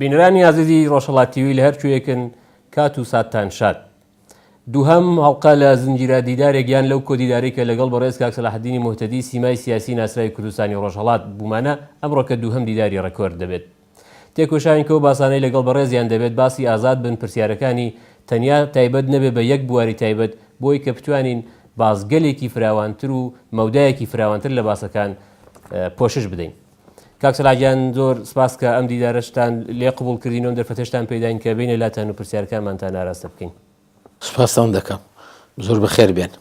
بینرانی ئازیزی ڕۆژهڵاتیوی لە هەرکوێکن کات و ساتان شاد دووهەم هەڵقە لە زنجیرە دیدارێک یان لەو کۆدیدارێکە لەگەڵ بەڕێز کاک سەلاحدینی مهتەدی سیمای سیاسی ناسراوی کوردستانی ڕۆژهەڵات بوومانە ئەمڕۆکە دووهەم دیداری ڕێکۆرد دەبێت تێکۆشاین کەو باسانەی لەگەڵ بەڕێزیان دەبێت باسی ئازاد بن پرسیارەکانی تەنیا تایبەت نەبێ بە یەک بواری تایبەت بۆی کە بتوانین بازگەلێکی فراوانتر و مەودایەکی فراوانتر لە باسەکان پۆشش بدەین. کاک سەلاحگیان زۆر سپاس کە ئەم دیدارەشتان لێ قبول کردین و دەرفەتشتان پێداین کە بینە لاتان و پرسیارکانمانتان ئاراستە بکەین سپاستان دەکەم زۆر بەخێر بێن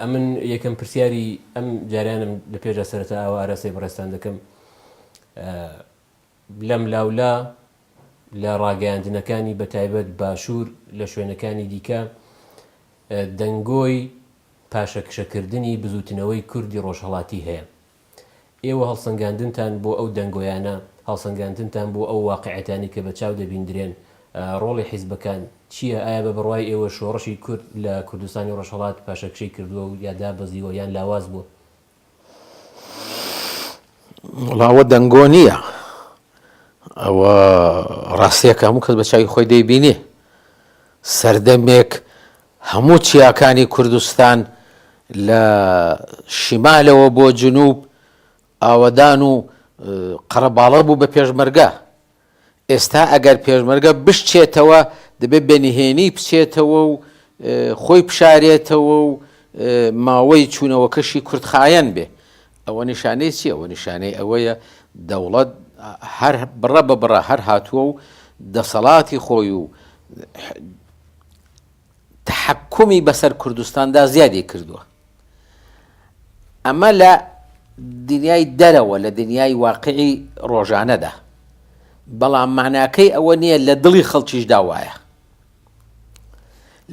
ئەمن یەکەم پرسیاری ئەم جارانم لە پێشدا سەرەتا ئەوە ئاراسی بڕێستان دەکەم لەم لاولا لە ڕاگەیاندنەکانی بە تایبەت باشوور لە شوێنەکانی دیکە دەنگۆی پاشەکشەکردنی بزووتنەوەی کوردی ڕۆژهەڵاتی هەیە. ئێوە هەڵسەنگاندنتان بۆ ئەو دەنگۆیانە، هەڵسەنگاندنتان بۆ ئەو واقعیەتانەی کە بە چاو دەبیندرێن، ڕۆڵی حیزبەکان، چییە؟ ئایا بە بڕوای ئێوە شۆڕشی کورد لە کوردستانی ڕۆژهەڵات پاشەکشەی کردووە و یا دابەزیوە یان لاواز بووە؟ وەڵا ئەوە دەنگۆ نییە ئەوە ڕاستیەکە هەموو کەس بە چاوی خۆی دەیبینێ سەردەمێک هەموو چیاکانی کوردستان لە شیمالەوە بۆ جنوب ئاوەدان و قەرەباڵە بوو بە پێشمەرگە ئێستا ئەگەر پێشمەرگە بشچێتەوە دەبێت بە نهێنی بچێتەوە و خۆی بشارێتەوە و ماوەی چوونەوەکەشی کورتخایەن بێ، ئەوە نیشانەی چیە؟ ئەوە نیشانەی ئەوەیە دەوڵەت هەر بڕە بە بڕە هەر هاتووە و دەسەڵاتی خۆی و تەحەکومی بەسەر کوردستاندا زیادی کردووە. ئەمە لە دنیای دەرەوە لە دنیای واقعی ڕۆژانەدا بەڵام معناکەی ئەوە نییە لە دڵی خەڵکیشدا وایە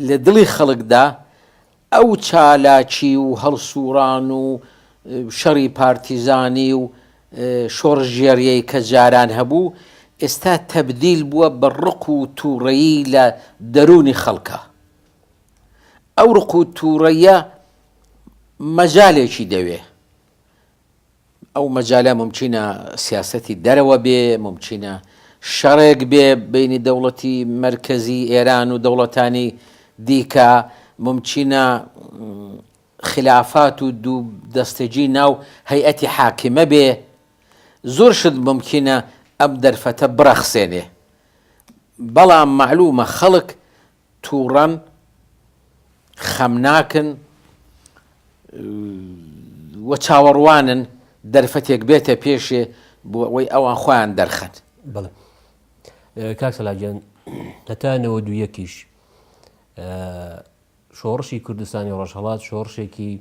لە دڵی خەڵکدا ئەو چالاکی و هەڵسوڕان و شەڕی پارتیزانی و شۆڕشگێڕیەی کە جاران هەبوو ئێستا تەبدیل بووە بە ڕق و توڕەیی لە دەروونی خەڵکا ئەو ڕق و توڕەیە مەجالێکی دەوێ ئەو مەجالە ممچینە سیاستی دەرەوە بێ ممچینە شەڕێک بێ بینی دەوڵەتی مرکزی ئێران و دەوڵەتانی دیکە ممچینە خلافات و دوو دەستەجی ناو هەیئەتی حاکمە بێ زور شت مومکینە ئەم دەرفەتە برەخسێنێ بەڵام مەعلومە خەڵک توڕەن خەمناکن و چاوەڕوانن دەرفەتێک بێتە پێشێ بۆ ئەوەی ئەوان خۆیان دەرخەن. بەڵێ کاک سەلاح گیان هەتا نەوەدو یەکیش شۆڕشی کوردستانی ڕۆژهەڵات شۆڕشێکی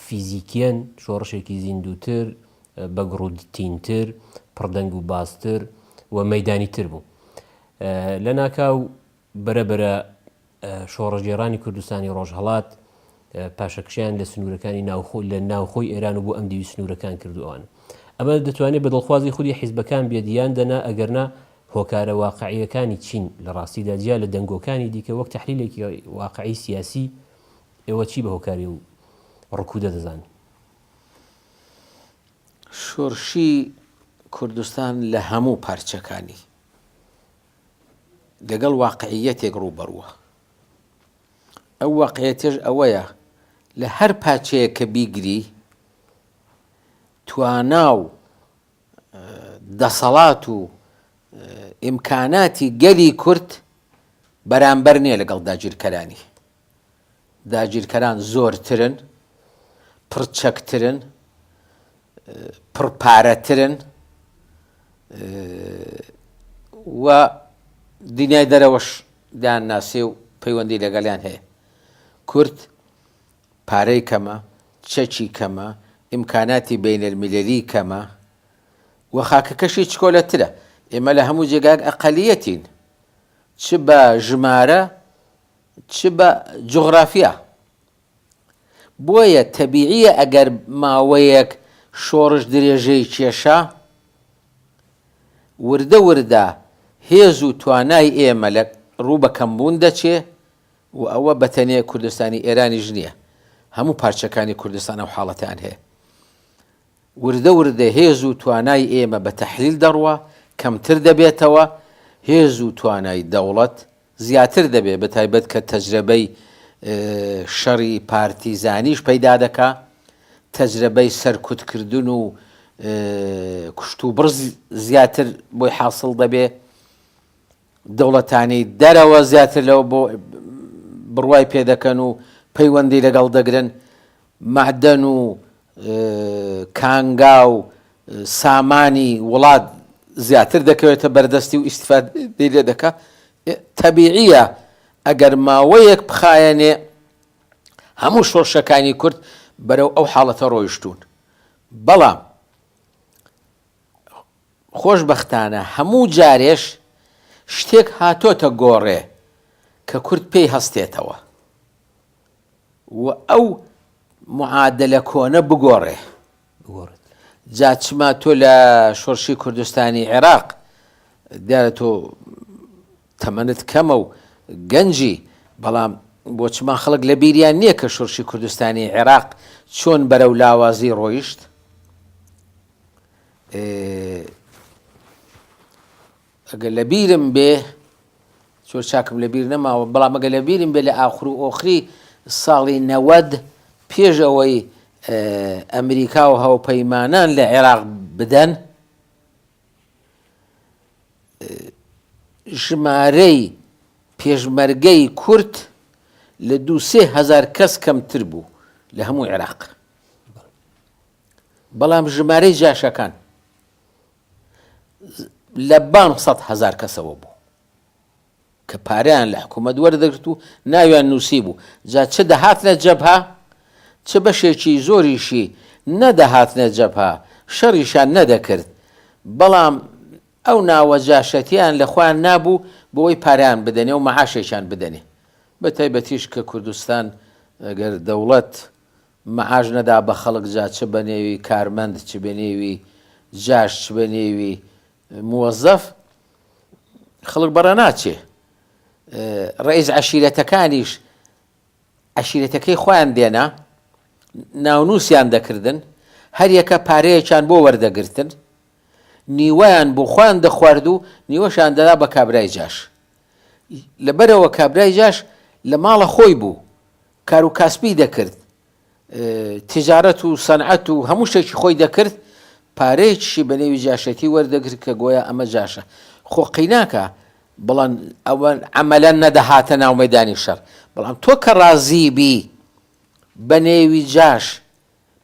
فیزیکیەن شۆڕشێکی زیندووتر بەگڕودتینتر پڕدەنگ و باستر و مەدانی تر بوو لە ناکاو بەرەبرە شۆڕژێرانی کوردستانی ڕۆژهڵات پاشەکشیان لە سنوورەکانی ناوخۆ لە ناوخۆی ئێران و بۆ ئەم دیوی سنوورەکان کردووان ئەمە دەتوانێت بە دڵخوازی خودی حیزبەکان بێدیان دەنا ئەگەرنا هۆکارە واقعییەکانی چین؟ لە ڕاستیدا جیا لە دەنگۆکانی دیکە، وەک تەحلیلێکی واقعی سیاسی، ئێوە چی بە هۆکاری ئەو ڕکوودە دەزانن؟ شۆرشی کوردستان لە هەموو پارچەکانی، لەگەڵ واقعییەتێک ڕووبەڕووە. ئەو واقعییەتەش ئەوەیە لە هەر پارچەیەک کە بیگری، توانا و دەسەڵات و ئیمکاناتی گەلی کورد بەرامبەر نییە لەگەڵ داگیرکەرانی. داگیرکەران زۆرترن، پڕچەکترن، پڕپارەترن و دنیای دەرەوەش دەیانناسێ و پەیوەندی لەگەڵیان هەیە. کورد پارەی کەمە، چەکی کەمە، ئیمکاناتی بەینەلمیللیی کەمە و خاکەکەشی چکۆلەترە. ئێمە لە هەموو جێگایەک ئەقەلیەتین، چ بە ژمارە، چ بە جوغرافیا. بۆیە تەبیعییە ئەگەر ماوەیەک شۆڕش درێژەی کێشا، وردە وردە هێز و توانای ئێمە لە ڕوو بە کەمبوون دەچێ، و ئەوە بەتەنێ کوردستانی ئێرانیش نییە، هەموو پارچەکانی کوردستان ئەو حاڵەتەیان هەیە. وردە وردە هێز و توانای ئێمە بە تەحلیل دەڕوا، کەمتر دەبێتەوە، هێز و توانای دەوڵەت زیاتر دەبێ، بە تایبەت کە تەجرەبەی شەڕی پارتیزانیش پەیدا دەکا، تەجرەبەی سەرکوتکردن و کوشتوبڕ زیاتر بۆی حاسڵ دەبێ. دەوڵەتانی دەرەوە زیاتر لەوە بۆ بڕوای پێ دەکەن و پەیوەندی لەگەڵ دەگرن، مەعدەن و کانگا و سامانی وڵات زیاتر دەکەوێتە بەردەستی و ئیستیفادەی لێ دەکا، تەبیعییە ئەگەر ماوەیەک بخایەنێ هەموو شۆرشەکانی کورد بەرەو ئەو حاڵەتە ڕۆیشتوون، بەڵام خۆشبەختانە هەموو جارێش شتێک هاتۆتە گۆڕێ کە کورد پێی هەستێتەوە و ئەو معادلە کۆنە بگۆڕێ. بگۆڕێت. جا چما تۆ لە شۆرشی کوردستانی عێراق دیارە تۆ تەمەنت کەمە و گەنجی بەڵام بۆ چما خەڵک لە بیریان نییە کە شۆرشی کوردستانی عێراق چۆن بەرەو لاوازی ڕۆیشت؟ ئەگەر لە بیرم بێ زۆر چاکم لە بیر نەماوە بەڵام ئەگە لە بیرم بێ لە ئاخر و ئۆخری ساڵی نەوەد پێش ئەوەی ئەمریکا و هاوپەیمانان لە عێراق بدەن ژمارەی پێشمەرگەی کورت لە دو سێ هزار کەس کەمتر بوو لە هەموو عێراق بەڵام ژمارەی جاشەکان لە بان سەد هەزار کەسەوە بوو کە پاریان لە حکوومەت وەردەگرت و ناویان نووسی بوو جا چ دەهاتنە جەبها چ بەشێکی زۆریشی نەدەهاتنە جەبها شەڕیشان نەدەکرد بەڵام ئەو ناوە جاشەتیان لە خۆیان نابوو بۆی پاریان بدەنێ و مەعاشێکیان بدەنێ بە تایبەتیش کە کوردستان گەر دەوڵەت مەعاش نەدا بە خەڵک جا چ بە نێوی کارمەند چ بە نێوی جاش چ بە نێوی موەزەف خەڵک بە ڕە ناچێ ڕئیس عەشیرەتەکانیش عەشیرەتەکەی خۆیان دێنا ناونووسیان دەکردن هەریەکە پارەیەکیان بۆ وەردەگرتن نیوەیان بۆ خۆیان دەخوارد و نیوەشان دەدا بە کابرای جاش لەبەرەوە کابرای جاش لە ماڵە خۆی بوو کارو کاسبی دەکرد تجارەت و سەنعەت و هەموو شتێکی خۆی دەکرد پارەیەکیشی بە نێوی جاشێتی وەردەگرت کە گۆیا ئەمە جاشە خۆ قیناکە بڵند ئەوە عملا نەدەهاتە ناو مەدانی شەر بەڵام تۆ کە ڕازی بی بە نێوی جاش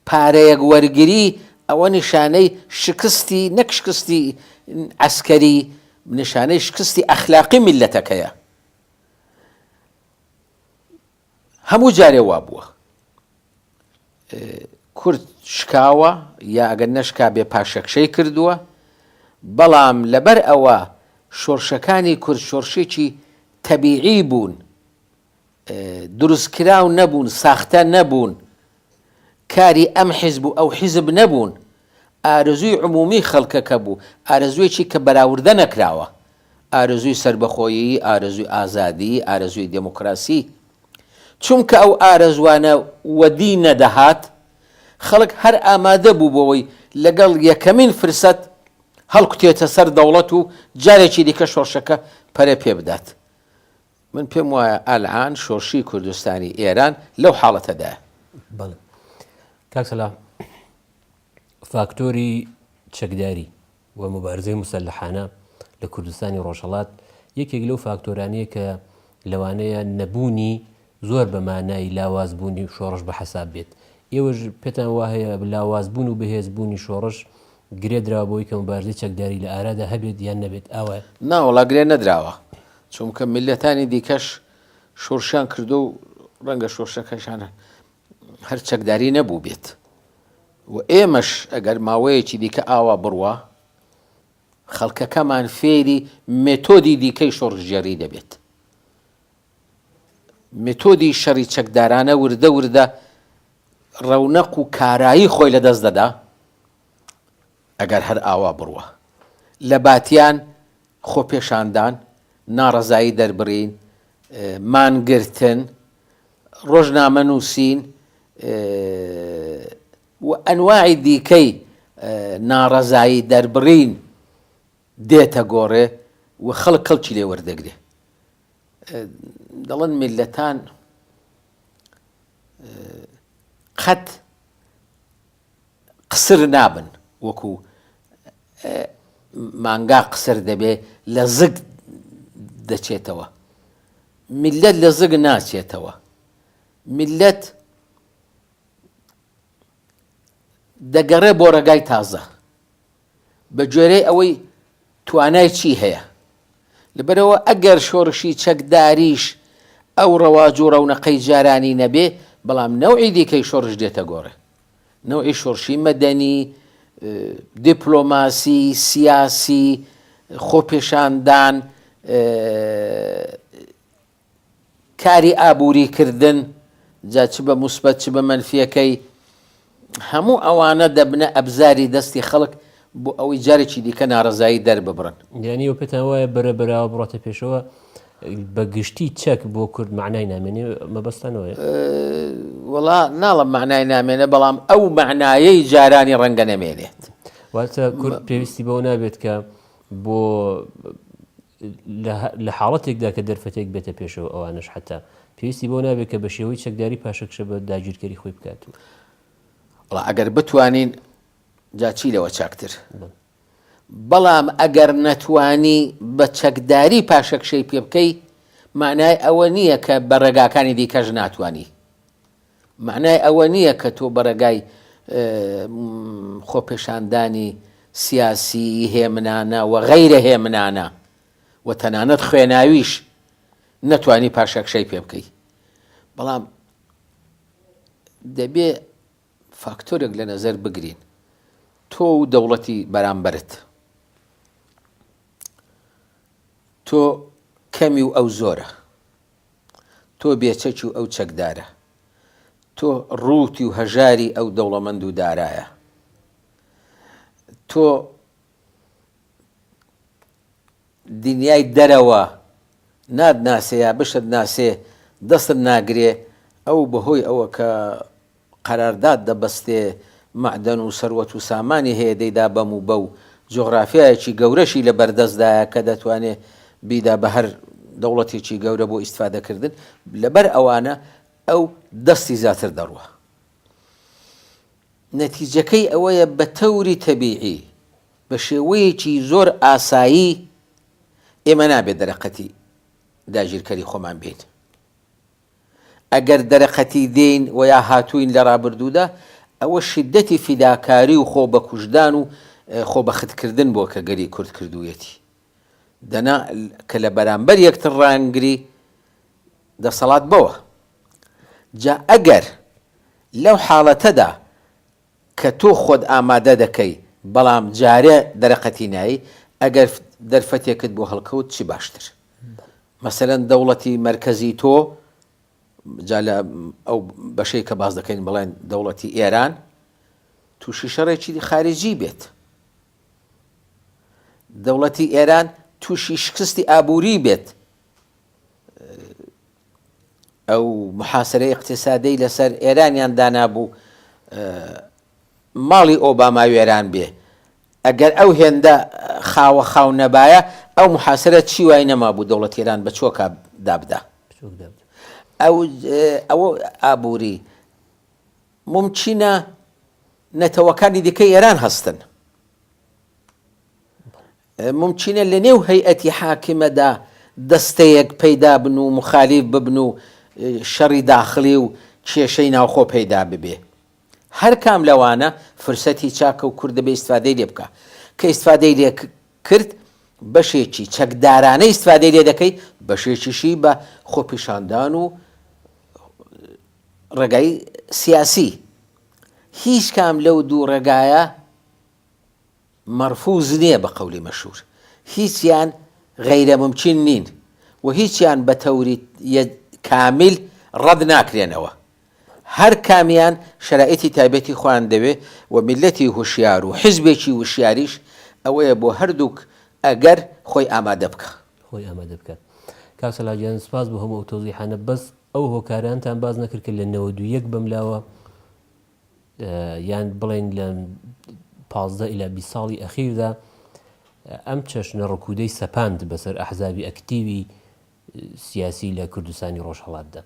پارەیەک وەرگری ئەوە نیشانەی شکستی نەک شکستی عسکەری نیشانەی شکستی ئەخلاقی میلەتەکەیە هەموو جارێ وا بووە کورد شکاوە یا ئەگەر نەشکا بێ پاشەکشەی کردووە بەڵام لەبەر ئەوە شۆرشەکانی کورد شۆرشێکی تەبیعی بوون دروستکراو نەبوون ساختە نەبوون کاری ئەم حیزب و ئەو حیزب نەبوون، ئارەزووی عموومی خەڵکەکە بوو، ئارەزووێکی کە بەراوردە نەکراوە، ئارەزووی سەربەخۆیی، ئارەزووی ئازادی، ئارەزووی دێمۆکراسی. چونکە ئەو ئارەزووانە وەدی نەدەهات، خەڵک هەر ئامادە بوو بۆوەی لەگەڵ یەکەمین فرسەت هەڵکوتێتە سەر دەوڵەت و جارێکی دیکە شۆڕشەکە پەرە پێ بدات. من پێم وایە ئەلعان شۆرشی کوردستانی ئێران لەو حاڵەتەدایە. بەڵێ. کاک سەلام، فاکتۆری چەکداری و موبارزەی موسەلەحانە لە کوردستانی ڕۆژهەڵات، یەکێک لەو فاکتۆرانەیە کە لەوانەیە نەبوونی زۆر بە مانای لاوازبوونی شۆڕش بە حەساب بێت. ئێوەش پێتان وا هەیە لاوازبوون و بەهێزبوونی شۆڕش گرێ دراوە بەوەی کە موبارزەی چەکداری لە ئارادا هەبێت یان نەبێت، ئاوایە؟ نا وەڵا گرێ نەدراوە. چونکە میللەتانی دیکەش شۆرشیان کردوە و ڕەنگە شۆرشەکەشان هەر چەکداری نەبوو بێت و ئێمەش ئەگەر ماوەیەکی دیکە ئاوا بڕوا خەڵکەکەمان فێری مێتۆدی دیکەی شۆڕژگێڕی دەبێت متۆدی شەڕی چەکدارانە وردە وردە ڕەونەق و کارایی خۆی لەدەست دەدا ئەگەر هەر ئاوا بڕوا لە باتیان، خۆپێشاندان، ناڕەزایی دەربڕین، مانگرتن، ڕۆژنامە نووسین و ئەنواعی دیکەی ناڕەزایی دەربڕین دێتە گۆڕێ و خەڵک کەڵکی لێ وەردەگرێ دەڵێن میللەتان قەت قسر نابن وەکو مانگا قسر دەبێ لە زگ دەچێتەوە میلەت لە زگ ناچێتەوە میلەت دەگەڕێ بۆ ڕێگای تازە بە گوێرەی ئەوەی توانای چی هەیە لەبەرەوە ئەگەر شۆڕشی چەکداریش ئەو ڕەواج و ڕەونەقەی جارانی نەبێ بەڵام نەوعی دیکەی شۆڕش دێتە گۆڕێ نەوعی شۆڕشی مەدەنی، دیپلۆماسی، سیاسی، خۆپێشاندان، کاری ئابووری کردن، جا چ بە موسبەت چ بە مەنفیەکەی، هەموو ئەوانە دەبنە ئەبزاری دەستی خەڵک بۆ ئەوەی جارێکی دیکە نارەزایی دەرببڕن. یانی ئەوە پێتان وایە بەرە بەراوە بڕۆتە پێشەوە بە گشتی چەک بۆ کورد مەعنای نامێنێ مەبەستتان ئەوەیە؟ وەڵا ناڵم مەعنای نامێنێ بەڵام ئەو مەعنایەی جارانی ڕەنگە نەمێنێت. واتە کورد پێویستی بەوە نابێت کە بۆ لە حاڵەتێکدا کە دەرفەتێک بێتە پێشەوە ئەوانش حتا پێویستی بۆ نابێت کە بە شێوەی چەکداری پاشەکشە بە داگیرکەری خۆی بکات و ئەگەر بتوانین جا چی لەوە چاکتر؟ بەڵام ئەگەر نەتوانی بە چەکداری پاشەکشەی پێ بکەی مانای ئەوە نییە کە بە ڕێگاکانی دیکەش ناتوانی مانای ئەوە نییە کە تۆ بەڕێگای خۆپێشاندانی سیاسی هێمنانە و غەیرە هێمنانە و تەنانەت خوێناویش نەتوانی پاشەکشەی پێ بکەی بەڵام دەبێ فاکتۆرێک لە نەزەر بگرین تۆ و دەوڵەتی بەرامبەرت تۆ کەمی و ئەو زۆرە تۆ بێچەکی و ئەو چەکدارە تۆ ڕووتی و هەژاری ئەو دەوڵەمەند و دارایە تۆ دنیای دەرەوە نات ناسێ یا بشت ناسێ دەستت ناگرێ ئەو بەهۆی ئەوە کە قەرارداد دەبەستێ مەعدەن و سەروەت و سامانی هەیە دەیدا بەم و بەو جوغرافیایەکی گەورەشی لە بەردەست دایە کە دەتوانێ بیدا بە هەر دەوڵەتێکی گەورە بۆ ئیستفادە کردن لە بەر ئەوانە ئەو دەستی زیاتر دەڕوا نەتیجەکەی ئەوەیە بە تەوری تەبیعی بە شێوەیەکی زۆر ئاسایی ئێمە نابێت دەرەقەتی داگیرکەری خۆمان بین. ئەگەر دەرەقەتی دێین و یا هاتووین لە ڕابردوودا، ئەوە شیددەتی فیداکاری و خۆ بەکوشتدان و خۆ بەختکردن بووە کە گەلی کورد کردوویەتی. دەنا کە لە بەرامبەر یەکتر ڕایانگری دەسەڵات بەوە. جا ئەگەر لەو حاڵەتەدا کە تۆ خۆت ئامادە دەکەی بەڵام جارێ دەرەقەتی نایی ئەگەر دەرفەتێکت بۆ هەڵکەوت چی باشتر مەسەلەن دەوڵەتی مەرکەزی تۆ جا لە ئەو بەشەی کە باس دەکەین بڵێن دەوڵەتی ئێران تووشی شەڕێکی خارجی بێت دەوڵەتی ئێران تووشی شکستی ئابووری بێت ئەو محاسرەی ئیقتیسادی لەسەر ئێرانیان دانابوو ماڵی ئۆباما وێران بێ ئەگەر ئەو هێندە خاوە خاو نەبایە ئەو محاسرە چی وای نەما بوو دەوڵەت ئێران بە چۆکە دابدا ئەوە ئابووری ممچینە نەتەوەکانی دیکە ئێران هەستن مومکینە لە نێو هەیئەتی حاکمەدا دەستەیەک پەیدا بن و موخالیف ببن و شەڕی داخڵی و کێشەی ناوخۆ پەیدا ببێ. هەر کام لەوانە فرسەتی چاکە و کورد دەبێ ئیستفادەی لێ بکا. کە ئیستفادەی لێ کرد، بەشێکی چەکدارانە ئیستفادەی لێ دەکەی، بەشێکیشی بە خۆپیشاندان و ڕێگای سیاسی. هیچ کام لەو دوو ڕێگایە مەرفوز نیە بە قەولی مەشهور هیچیان غەیرە مومکین نین و هیچیان بە تەوری ی کامیل ڕەد ناکرێنەوە هەر کامیان شەرایتی تایبەتی خۆیان دەوێ و میللەتی هوشیار و حیزبێکی وشیاریش ئەوەیە بۆ هەردووک ئەگەر خۆی ئامادە بکا. خۆی ئامادە بکا. کاک سەلاح گیان سپاس بۆ هەموو ئەو تەوزیحانە بەس ئەو هۆکارانتان باس نەکرد کە لە نەوەد و یەک بەملاوە، یان بڵێن لە پازدە ئیلا بیست ساڵی ئەخیردا ئەم چەشنە ڕکوودەی سەپاند بەسەر ئەحزابی ئەکتیوی سیاسی لە کوردستانی ڕۆژهەڵاتدا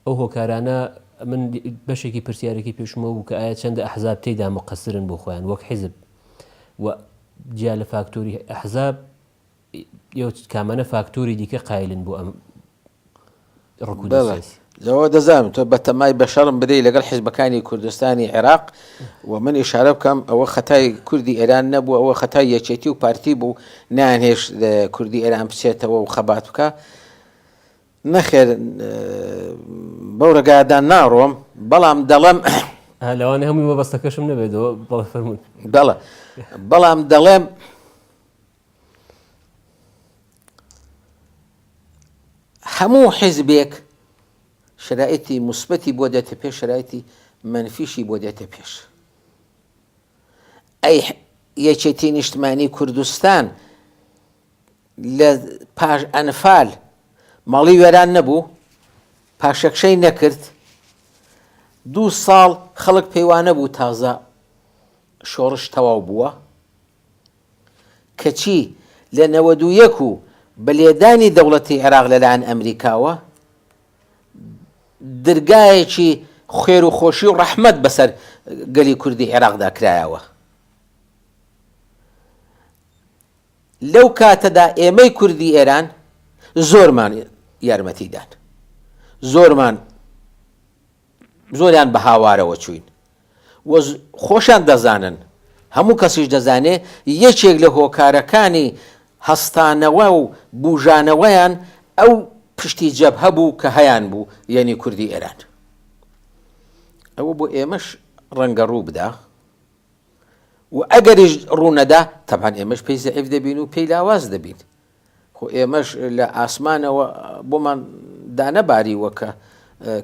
ئەو هۆکارانە من بەشێکی پرسیارێکی پێشمە بوو کە ئایا چەندە ئەحزاب تێدا مقەسرن بۆ خۆیان وەک حیزب و جیا لە فاکتۆری ئەحزاب کامانە فاکتۆری دیکە قایلن بۆ ئەم بەڵێ لەوە دەزانم تۆ بەتەمای بەشەڕم بدەی لەگەڵ حیزبەکانی کوردستانی عێراق و من ئیشارە بکەم ئەوە خەتای کوردی ئێران نەبوو ئەوە خەتای یەکێتی و پارتی بوو نانهێش کوردی ئێران بچێتەوە و خەبات بکە نەخێر بەو ڕگادان ناڕۆم بەڵام دەڵێم لەوانە هەمووی وەبەستەکەشم نەبێتەوە بەڵ فەرمون دەڵە بەڵام دەڵێم هەموو حیزبێک شرایتی مثبەتی بۆ دێتە پێش شرایتی منفیشی بۆ دێتە پێش ئەی یەکێتی نیشتمانی کوردستان لە پاش ئەنفال ماڵی وێران نەبوو پاشەکشەی نەکرد دوو ساڵ خەڵک پێیوانە بوو تازە شۆڕش تەواو بووە کەچی لە نەوەد و یەک و بە لێدانی دەوڵەتی عێراق لەلایەن ئەمریکاوە، درگایەکی خێر و خۆشی و ڕەحمەت بەسەر گەلی کوردی عێراقدا کرایەوە. لەو کاتەدا ئێمەی کوردی ئێران زۆرمان یارمەتیدان، زۆرمان زۆریان بە هاوارەوە چووین و خۆشیان دەزانن، هەموو کەسیش دەزانێ یەکێک لە هۆکارەکانی هەستانەوە و بووژانەوەیان ئەو پشتی جەبهە بوو کە هەیانبوو یەنی کوردی ئێران. ئەوە بۆ ئێمەش ڕەنگە ڕوو بدا و ئەگەریش ڕوو نەدا تەبعەن ئێمەش پێی زەعیف دەبین و پێی لاواز دەبین. خۆ ئێمەش لە ئاسمانەوە بۆمان دانەباریوە کە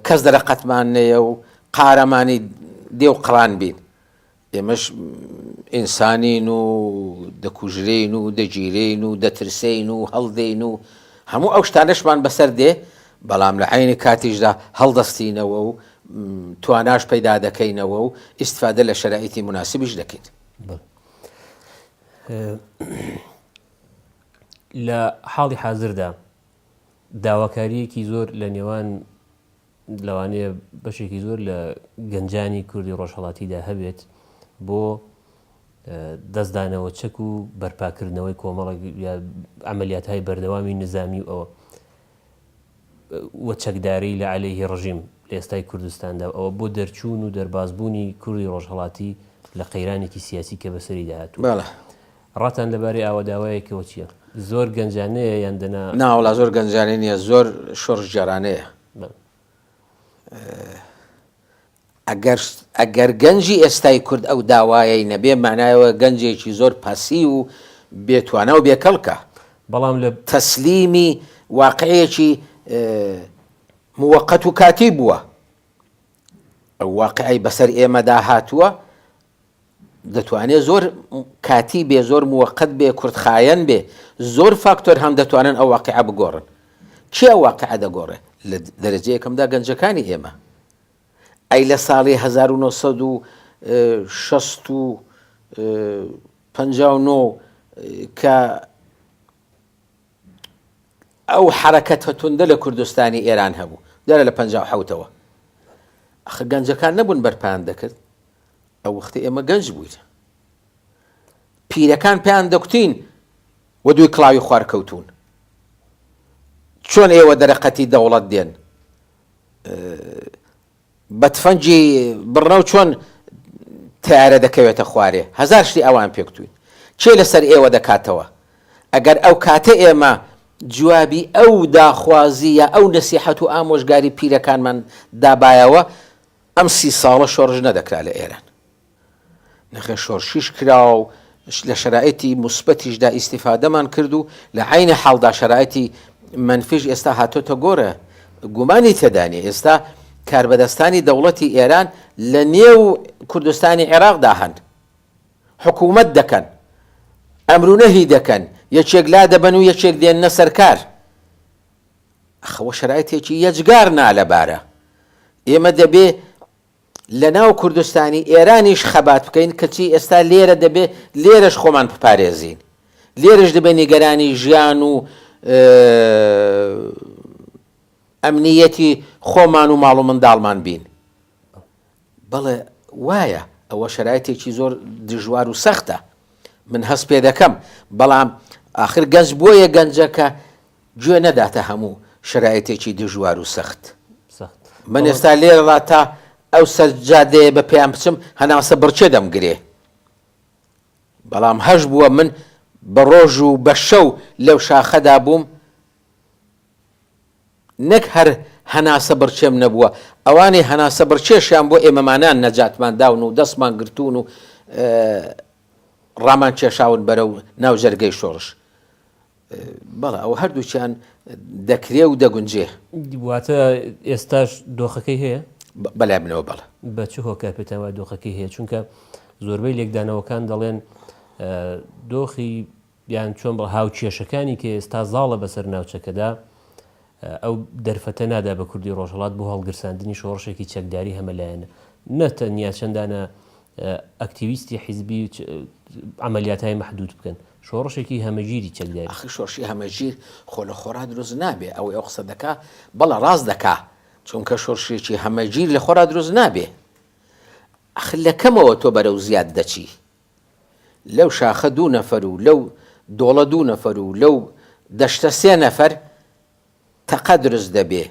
کەس دەرەقەتمان نەیە و قارەمانی دێو قڕان بین. ئێمەش ئینسانین و دەکوژرێین و دەگیرێین و دەترسێین و هەڵدێین و هەموو ئەو شتانەشمان بەسەر دێ، بەڵام لە عەینی کاتیشدا هەڵدەستینەوە و تواناش پەیدا دەکەینەوە و ئیستفادە لە شەرائیتی موناسبیش دەکەین. لە حاڵی حازردا داواکارییەکی زۆر لە نێوان لەوانەیە بەشێکی زۆر لە گەنجانی کوردی ڕۆژهەڵاتیدا هەبێت بۆ دەستدانەوە چەک و بەرپاکردنەوەی کۆمەڵێک ئەمەلیات های بەردەوامی نزامی و ئەوە و چەکداری لە عەلەیهی ڕژیم لە ئێستای کوردستاندا و ئەوە بۆ دەرچوون و دەربازبوونی کوردی ڕۆژهەڵاتی لە قەیرانێکی سیاسی کە بەسەریدا هاتووە. ڕاتان لەبارەی ئاوە داوایەکەوە چییە؟ زۆر گەنجانەیە یان دەنا. نا وەڵا زۆر گەنجانە نییە، زۆر شۆڕشگێڕانەیە. ئەگەر ئەگەر گەنجی ئێستای کورد ئەو داوایەی نەبێ مەعنایەوە گەنجێکی زۆر پەسیو و بێ توانا و بێ کەڵکە بەڵام لە. تەسلیمی واقعێکی موەقەت و کاتی بووە ئەو واقعەی بەسەر ئێمەدا هاتووە دەتوانێ زۆر کاتی بێ زۆر موەقەت بێ کورت خایەن بێ زۆر فاکتۆر هەم دەتوانن ئەو واقعە بگۆڕن کێ ئەو واقعە دەگۆڕێ لە دەرەجەیەکەمدا گەنجەکانی ئێمە ئەی لە ساڵی هەزار و نۆ سەد و شەست و پەنجا و نۆ کە ئەو حەرەکەتە توندە لە کوردستانی ئێران هەبوو دیارە لە پەنجا و حەوتەوە ئەخ گەنجەکان نەبوون بەرپان دەکرد ئەو وەختی ئێمە گەنج بووین پیرەکان پێیان دەکوتین و دوی کڵاوی خوارکەوتون چۆن ئێوە دەرەقەتی دەوڵەت دێن بە تفەنگی بڕنەو چۆن تەیارە دەکەوێتە خوارێ هەزار شتی ئەوان پێکتوین کێ لەسەر ئێوە دەکاتەوە ئەگەر ئەو کاتە ئێمە جوابی ئەو داخوازی یا ئەو نەسیحەت و ئامۆژگاری پیرەکانمان دابایەوە ئەم سی ساڵە شۆڕش نەدەکرا لە ئێران نرخە شۆرشیش کرا و لە شەرایتی موسبەتیشدا ئیستیفادەمان کرد و لە عەینی حاڵدا شەرایتی مەنفیش ئێستا هاتۆتە گۆرە گومانی تێدا نیە ئێستا کاربەدەستانی دەوڵەتی ئێران لە نێو کوردستانی عێراقدا هەن حکومەت دەکەن ئەمرونەهی دەکەن یەکێک لادەبەن و یەکێک دێننە سەرکار ئەخەوە شەرایتێکی یەجگار نالەبارە ئێمە دەبێ لە ناو کوردستانی ئێرانیش خەبات بکەین، کەچی ئێستا لێرە دەبێ لێرەش خۆمان بپارێزین، لێرەش دەبێ نیگەرانی ژیان و ئەمنییەتی خۆمان و ماڵ و منداڵمان بین. بەڵێ وایە، ئەوە شەرایتێکی زۆر دژوار و سەختە، من هەست پێ دەکەم، بەڵام ئاخر گەنج بۆیە گەنجە کە، گوێ نەداتە هەموو شەرایتێکی دژوار و سەخت. سەخت. من ئێستا لێرەڕا تا ئەو سەر جادەیە بە پێیان بچم هەناسە بڕکێ دەمگرێ. بەڵام هەش بووە من بە ڕۆژ و بە شەو لەو شاخەدا بووم، نەک هەر هەناسە بڕکێم نەبووە، ئەوانەی هەناسە بڕکێشیان بۆ ئێمەمانان نەجاتمان داون و دەستمان گرتوون و ڕامان کێشاون بەرەو ناو جەرگەی شۆڕش. بەڵێ ئەوە هەردووکیان دەکرێ و دەگونجێ. واتە ئێستاش دۆخەکەی هەیە؟ بەلای منەوە بەڵێ. بە چ هۆکار پێتان وایە دۆخەکەی هەیە؟ چونکە زۆربەی لێکدانەوەکان دەڵێن دۆخی یان چۆن بە هاوکێشەکانی کە ئێستا زاڵە بەسەر ناوچەکەدا ئەو دەرفەتە نادا بە کوردی ڕۆژهەڵات بۆ هەڵگرساندنی شۆڕشێکی چەکداری هەمەلایەنە. نە تەنیا چەندانە ئەکتیویستی حیزبی عەمەلیاتای مەحدوود بکەن. شۆڕشێکی هەمەگیری چەکداری. ئاخر شۆڕشی هەمەگیر خۆ لە خۆڕا دروست نابێ. ئەوەی ئەو قسە دەکا، بەڵێ ڕاست دەکا. چونکە شۆڕشێکی هەمەگیر لە خۆڕا دروست نابێ. ئاخر لە کەمەوە تۆ بەرەو زیاد دەچی. لەو شاخە دوو نەفەر و لەو دۆڵە دوو نەفەر و لەو دەشتە سێ نەفەر تەقە دروست دەبێ.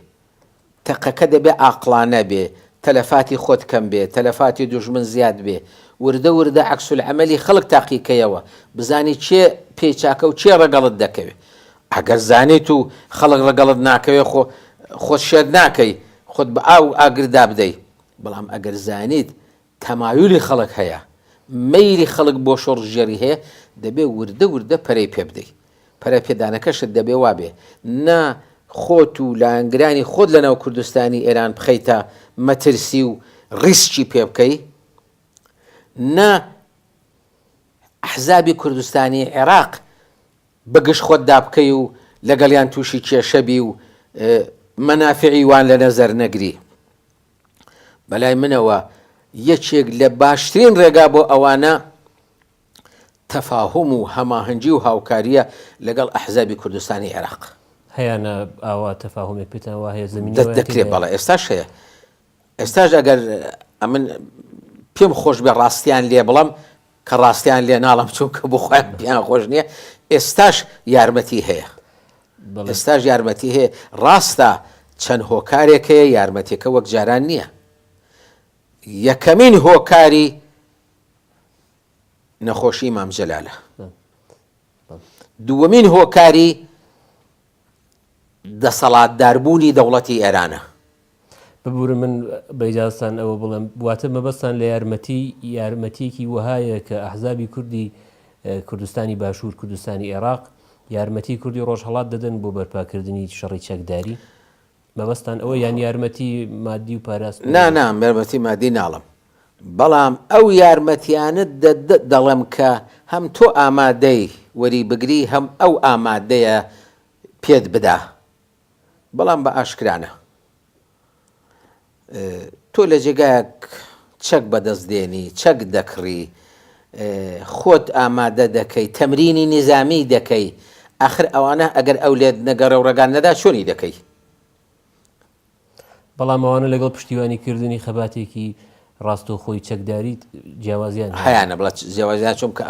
تەقەکە دەبێ عاقڵانە بێ، تەلەفاتی خۆت کەم بێ، تەلەفاتی دوژمن زیاد بێ. وردە وردە عەکسولعەمەلی خەڵک تاقی کەیەوە، بزانی کێ پێی چاکە و کێ ڕەگەڵت دەکەوێ. ئەگەر زانیت و خەڵک ڕەگەڵت ناکەوێ خۆ خۆت شێت ناکەی، خۆت بە ئاو و ئاگر دابدەی. بەڵام ئەگەر زانیت تەمایولی خەڵک هەیە، مەیلی خەڵک بۆ شۆڕشگێڕی هەیە، دەبێ وردە وردە پەرەی پێ بدەی. پەرەپێدانەکەشت دەبێ وا بێ، نە خۆت و لایەنگرانی خۆت لە ناو کوردستانی ئێران بخەیتە مەترسی و ڕیسکی پێ بکەی، نە ئەحزابی کوردستانی عێراق بە گژ خۆتدا بکەی و لەگەڵیان تووشی کێشە بی و مەنافعی وان لە نەزەر نەگری. بەلای منەوە یەکێک لە باشترین ڕێگا بۆ ئەوانە تەفاهوم و هەماهەنگی و هاوکاریە لەگەڵ ئەحزابی کوردستانی عێراق. هەیانە ئاوا تەفاهومێک پێتان وا هەیە زەمینەی دەست وایان دەکرێ تێدایە؟ بەڵێ ئێستاش هەیە ئێستاش ئەگەر ئەمن پێم خۆش بێ ڕاستیان لێ بڵەم کە ڕاستیان لێ ناڵێم چونکە بۆ خۆیان پێیان خۆش نییە ئێستاش یارمەتی هەیە ئێستاش یارمەتی هەیە ڕاستە چەند هۆکارێک هەیە یارمەتێکە وەک جاران نییە یەکەمین هۆکاری نەخۆشی مامجلالە دووەمین هۆکاری دەسەڵاتداربوونی دەوڵەتی ئێرانە. ببورن من بە ئیجازەتان ئەوە بڵێم، واتە مەبەستتان لە یارمەتی، یارمەتییەکی وەهایە کە ئەحزابی کوردی کوردستانی باشوور، کوردستانی ئێراق، یارمەتیی کوردی ڕۆژهەڵات دەدەن بۆ بەرپاکردنی شەڕی چەکداری؟ مەبەستتان ئەوە یان یارمەتی مادی و پاراست بۆ نا نا یارمەتی مادی ناڵم بەڵام ئەو یارمەتیانەت دەدە دەڵێم کە هەم تۆ ئامادەی وەری بگری هەم ئەو ئامادەیە پێت بدا بەڵام بە ئاشکرا نا. تۆ لە جێگایەک چەک بەدەست دێنی، چەک دەکڕی، خۆت ئامادە دەکەی، تەمرینی نیزامیی دەکەی، ئاخر ئەوانە ئەگەر ئەو لێت نەگەڕێ و ڕێگات نەدا چۆنی دەکەی؟ بەڵام ئەوانە لەگەڵ پشتیوانی کردنی خەباتێکی ڕاستەوخۆی چەکداریت جیاوازیان هەیە؟ هەیانە بڵێ جیاوازیان چۆن بکە؟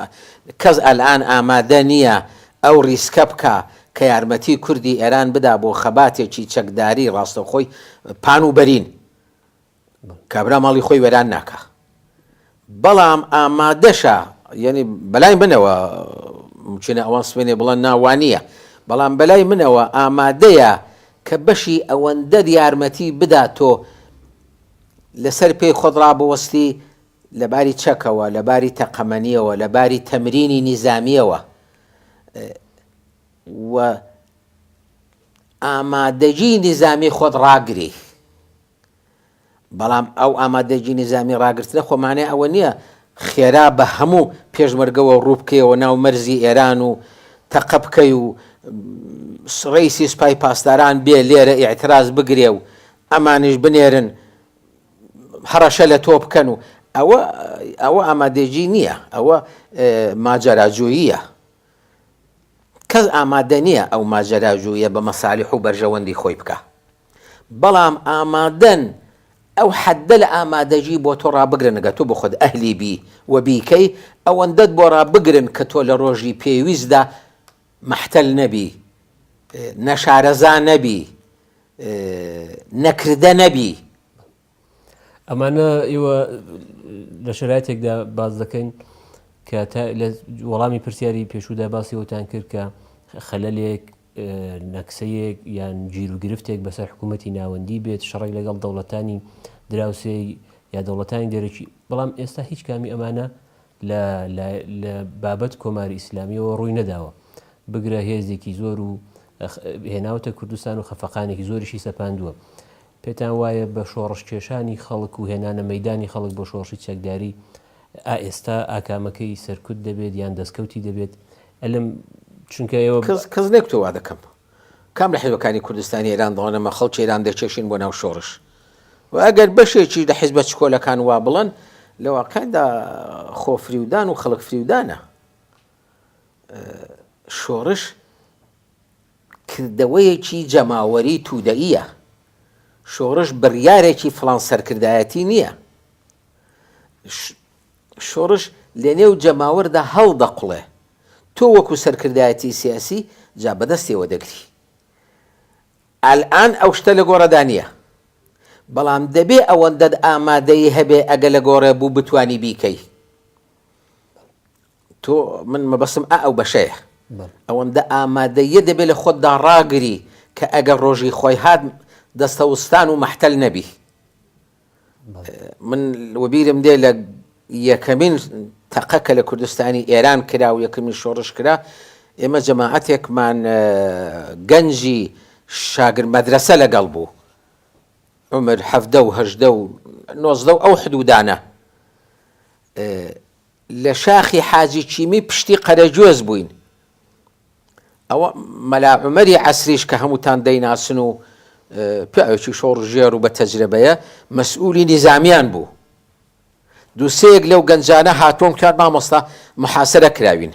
کەس ئەلئان ئامادە نییە ئەو ڕیسکە بکا کە یارمەتی کوردی ئێران بدا بۆ خەباتێکی چەکداری ڕاستەوخۆی پان و بەرین، کابرا ماڵی خۆی وێران ناکا. بەڵام ئامادەشە، یەنی بەلای منەوە، مومکینە ئەوان سبەینێ بڵێن نا وا نییە، بەڵام بەلای منەوە ئامادەیە کە بەشی ئەوەندەر یارمەتی بدا تۆ لە سەر پێی خۆت ڕابوەستی لە باری چەکەوە، لە باری تەقەمەنییەوە، لە باری تەمرینی نیزامییەوە. و ئامادەگی نیزامی خۆت ڕاگری، بەڵام ئەو ئامادەگی نیزامی ڕاگرتنە خۆ مانای ئەوە نییە خێرا بە هەموو پێشمەرگەوە ڕووبکەیەوە ناو مەرزی ئێران و تەقە بکەی و ڕیسی سپای پاسداران بێ لێرە ئیعتراز بگرێ و ئەمانش بنێرن هەڕەشە لە تۆ بکەن و ئەوە ئەوە ئامادەگی نییە ئەوە ماجەراجوییە کەس ئامادە نییە ئەو ماجەراجوویە بە مەسالیح و بەرژەوەندی خۆی بکا. بەڵام ئامادەن ئەو حەددە لە ئامادەگی بۆ تۆ ڕابگرن گە تۆ بخود ئەهلی بی و بیکەی، ئەوەندەت بۆ ڕابگرن کە تۆ لە ڕۆژی پێویستدا مەحتەل نەبی، نەشارەزا نەبی، نەکردە نەبی. ئەمانە ئێوە لە شرایتێکدا باز دەکەین کە لە وەڵامی پرسیاری پێشودا باسی وتان کرد کە خەلەلێک نەکسەیەک یان گیر و گرفتێک بەسەر حکوومەتتی ناوەندی بێت شەڕێک لەگەڵ دەوڵەتانی دراوسێ یا دەوڵەتانی دەرەکی بەڵام ئێستا هیچ کامی ئەمانە لە لە بابەت کۆماری ئیسلامیەوە ڕووی نەداوە بگرە هێزێکی زۆر و هێناوتە کوردستان و خەفەقانێکی زۆریشی سەپاندووە پێتان وایە بە شۆڕش کێشانی خەڵک و هێنانە مەدانی خەڵک بۆ شۆڕشی چەکداری ئائێستا ئاکامەکەی سەرکوت دەبێت یان دەستکەوتی دەبێت ئەلم چونکە ئێوە کەس نەکتەوا دەکەم کام لە حزبەکانی کوردستانی ئێران دەڵێنەمە خەڵکی ئێران دەیکێشین بۆ ناو شۆڕش و ئەگەر بەشێکی لە حزبە چکۆلەکان وا بڵن لە واقعدا خۆ فریودان و خەڵک فریودانە شۆڕش کردەوەیەکی جەماوەری تودەیە شۆڕش بڕیارێکی فلان سەرکردایەتی نییە شۆڕش لەنێو جەماوەردا هەڵدەقوڵێ، تۆ وەکو سەرکردایەتی سیاسی جا بەدەستیەوە دەگری. ئەلئان ئەو شتە لەگۆڕێدا نیە. بەڵام دەبێ ئەوەندەت ئامادەیی هەبێ ئەگە لەگۆڕێ بوو بتوانی بیکەی. تۆ، من مەبەستم ئا ئەو بەشەیە. ئەوەندە ئامادەییە دەبێ لە خۆتدا ڕاگری کە ئەگەر ڕۆژی خۆی هات دەستەوستان و مەحتەل نەبی. من وەبیرم دێ لە یەکەمین تەقە کە لە کوردستانی ئێران کرا و یەکەمین شۆڕش کرا ئێمە جەماعەتێکمان گەنجی شاگر مەدرسە لەگەڵ بوو عمر حەفدە و هەژدە و نۆزدە و ئەو حدودانە لە شاخی حاجی چیمی پشتی قەرەجۆز بووین. ئەوە مەلا عومەری عەسریش کە هەمووتان دەیناسن و پیاوێکی شۆڕشگێڕ و بە تەجرەبەیە، مەسئوولی نیزامیان بوو. دوو سێیەک لەو گەنجانە هاتوون گوتیان مامۆستا محاسەرە کراوین.